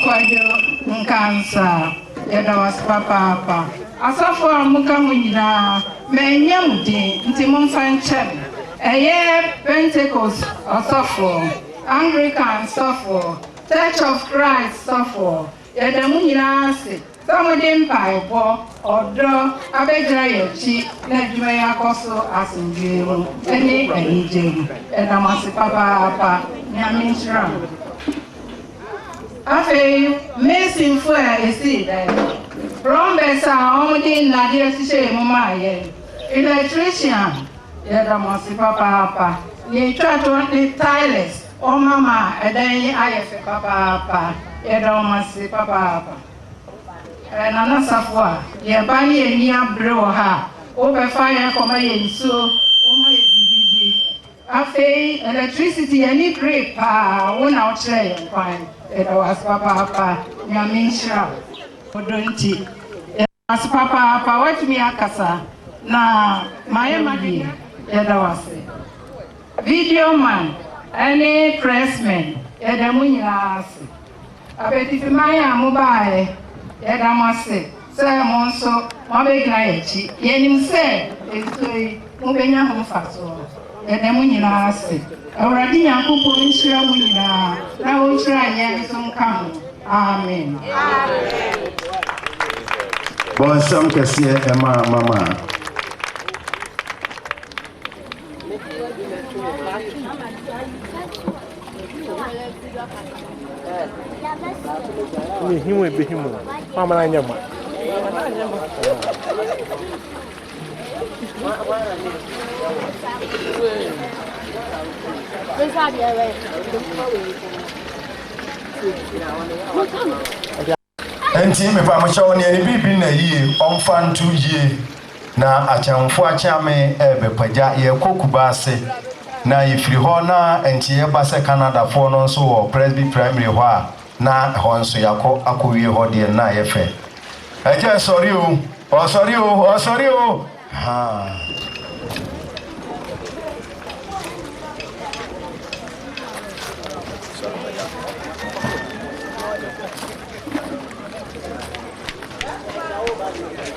Kwadwo Nkansah, yɛda wo ase papaapa. Asɔfoɔ a moka ho nyinaa, mannya mo din, nti momfa nkyɛ me. Ɛyɛ Pentekost Ɔsɔfoɔ, Anglikan Sɔfoɔ, Church of Christ Sɔfoɔ, Yɛda mo nyinaa ase sɛ mode mpaebɔ, ɔdɔ, abɛgyina yɛn akyi na adwuma yi akɔ so asomdwoe mu ne anigye mu. Yɛda mo ase papaapa. Nyame nhyira mo. Afei Masonfo a esii dan no, plumbers a wɔde nnade ahyehyɛɛ mu maa yɛn, electrician, yɛda mo ase papaapa, nea etwa to ne tilers, Ɔma ma ɛdan yi ayɛ fɛ papaapa. Yɛda wɔn ase papaapa. Ɛɛ Nana Safoa, yɛn ba ne yɛn ani abere wɔ ha a, wobɛfa yɛn akɔma yɛn nsuo, woma yɛn biribi di. Afei electricity, yɛn ani bere paa, wo na wokyerɛɛ yɛn kwan. Yɛda wo ase papaapa. Nyame nhyira wo. Wo dɔ nti. Ase papaapa watumi akasa na mayɛ madeɛ yɛda wo ase video man ɛne press men yɛda mo nyinaa ase apɛtifi man a mo baayɛ yɛda mo ase sɛ mo nso mo abɛgyina yɛn akyi yɛnim sɛ ɛtitire mobɛnya ho mfasoɔ. Yɛda mo nyinaa ase. Awurade Nyankopɔn nhyira mo nyinaa na ɔnhyira yɛn nso nka ho. Amen. Bɔ nsɛm kɛseɛ ɛma mama. Mehim ebehim o, mamana nyɛ ma. Enti mepamokyɛ wo neɛ ne biribi nna yie ɔmfa nto yie na akyɛmfo akyeame ɛrebɛpagya yɛrekɔ Kubaase na yɛfiri hɔ na nkyeyɛ ba sɛ Canadafoɔ no nso wɔ Presby Primary hɔ a Na hɔ nso yɛakɔ akɔwie hɔ deɛ na ayɛ fɛ. Agya sɔre o, ɔsɔre o, ɔsɔre o, haa.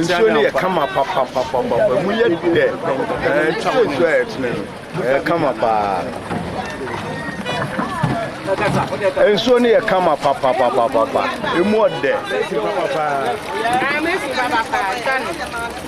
nsuo no yɛ kama papapapapa mu yɛ dɛ ɛnti sɛ nsuo a yɛtene no ɛyɛ kama paa nsuo no yɛ kama papapapapa ɛmu ɔdɛ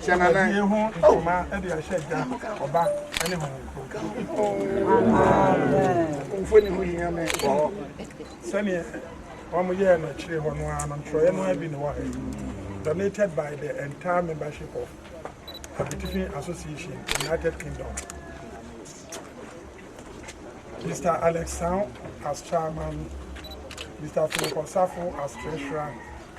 Hyɛ n'anan. Nkwagyeɛ ho nhoma de ahyɛ Agya, Ɔba, ne Honhom Kronkron. Amen. Mfoni ho hia me wɔ hɔ. Sɛdeɛ wɔyɛɛ no akyire hɔ no ara no, ntwerɛeɛ no ara bi na ɛwɔ ha yi. Donated by the entire membership of Abitifi Association, United Kingdom. Mr. Alex Sang as chairman, Mr. Philip Osafo as treasurer,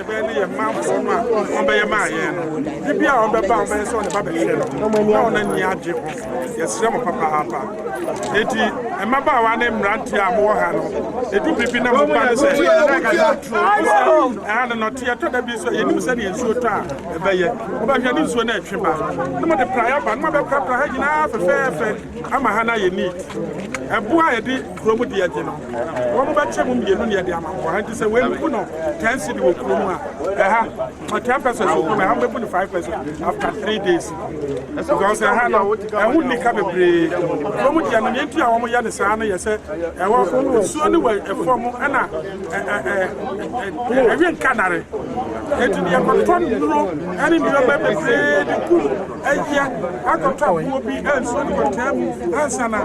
Ɛbɛyɛ ne yɛn manfoɔ no a wɔbɛyɛ maa yɛn no, de bi a wɔbɛba a wɔbɛyɛ sɛ wɔn ba bɛhwɛ no, na wɔn ani agye ho. Yɛsrɛ mo papaapa. Enti, mmabaawa ne mmeranteɛ a mowɔ ha no, ɛdu bere bi na mo ba no sɛ ɛha no nɔteɛ tɔ da bi nso a yɛnim sɛdeɛ nsuo tɔ a ɛbɛyɛ. Mobɛhwɛ ne nsuo no atwe ba, na mode praeɛ aba, na moabɛprapra ha nyinaa fɛfɛɛfɛ ama ha no ayɛ neat. Ɛboɔ a yɛde Kurom deɛ gye no wɔn bɛkyɛ mu mmienu na yɛde ama mo ha nti sɛ wei no bu no ten cedi wɔ kurom a ɛha ma ten pesos wɔ kurom ɛha bɛbu no five pesos after three days because ɛha no ɛho nni ka bebree kurom deɛ no nea nti a wɔn yɛ ne saa no yɛ sɛ ɛwɔ nsuo no wɔ ɛfam ɛna ɛwe nkanare nti deɛ kɔtɔ nnuro ɛne nneɛma bebree de kum Ɛyɛ akɔtɔ aboɔ bi nsuo no kɔtaa mu ansa na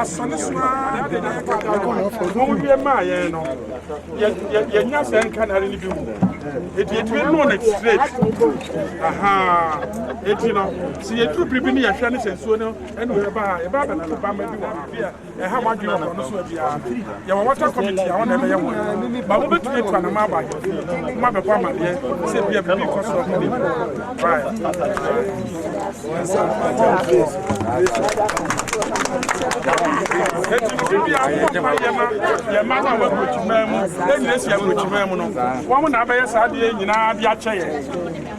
asɔ ne so ara de na yɛka da no wɔn wie maa yɛn no yɛnya sɛ nka nare no bi mu ɛti ɛtumi no no straight aha ɛti no sɛ yɛduru biribi no yɛhwɛ ne sɛ nsuo no ɛne yɛba ha yɛba bɛtoto bama bi wɔ ha ɛha w'adwene wɔ bɔne so a biara nti, yɛwɔ water committee a wɔn na ɛbɛyɛ wɔn adwuma. Ba wobɛtumi atu anamɔ aba ahemfie mu na moabɛbɔ amadeɛ sɛ bia biribi rekɔ so wɔ ne mu. Right. Eti biribi bi a wɔn ma yɛ ma yɛ ma no a wɔn aburokyimaa mu ɛnyɛ si aburokyimaa mu no wɔn na abɛyɛ saa adeɛ nyinaa de akyɛ yɛ.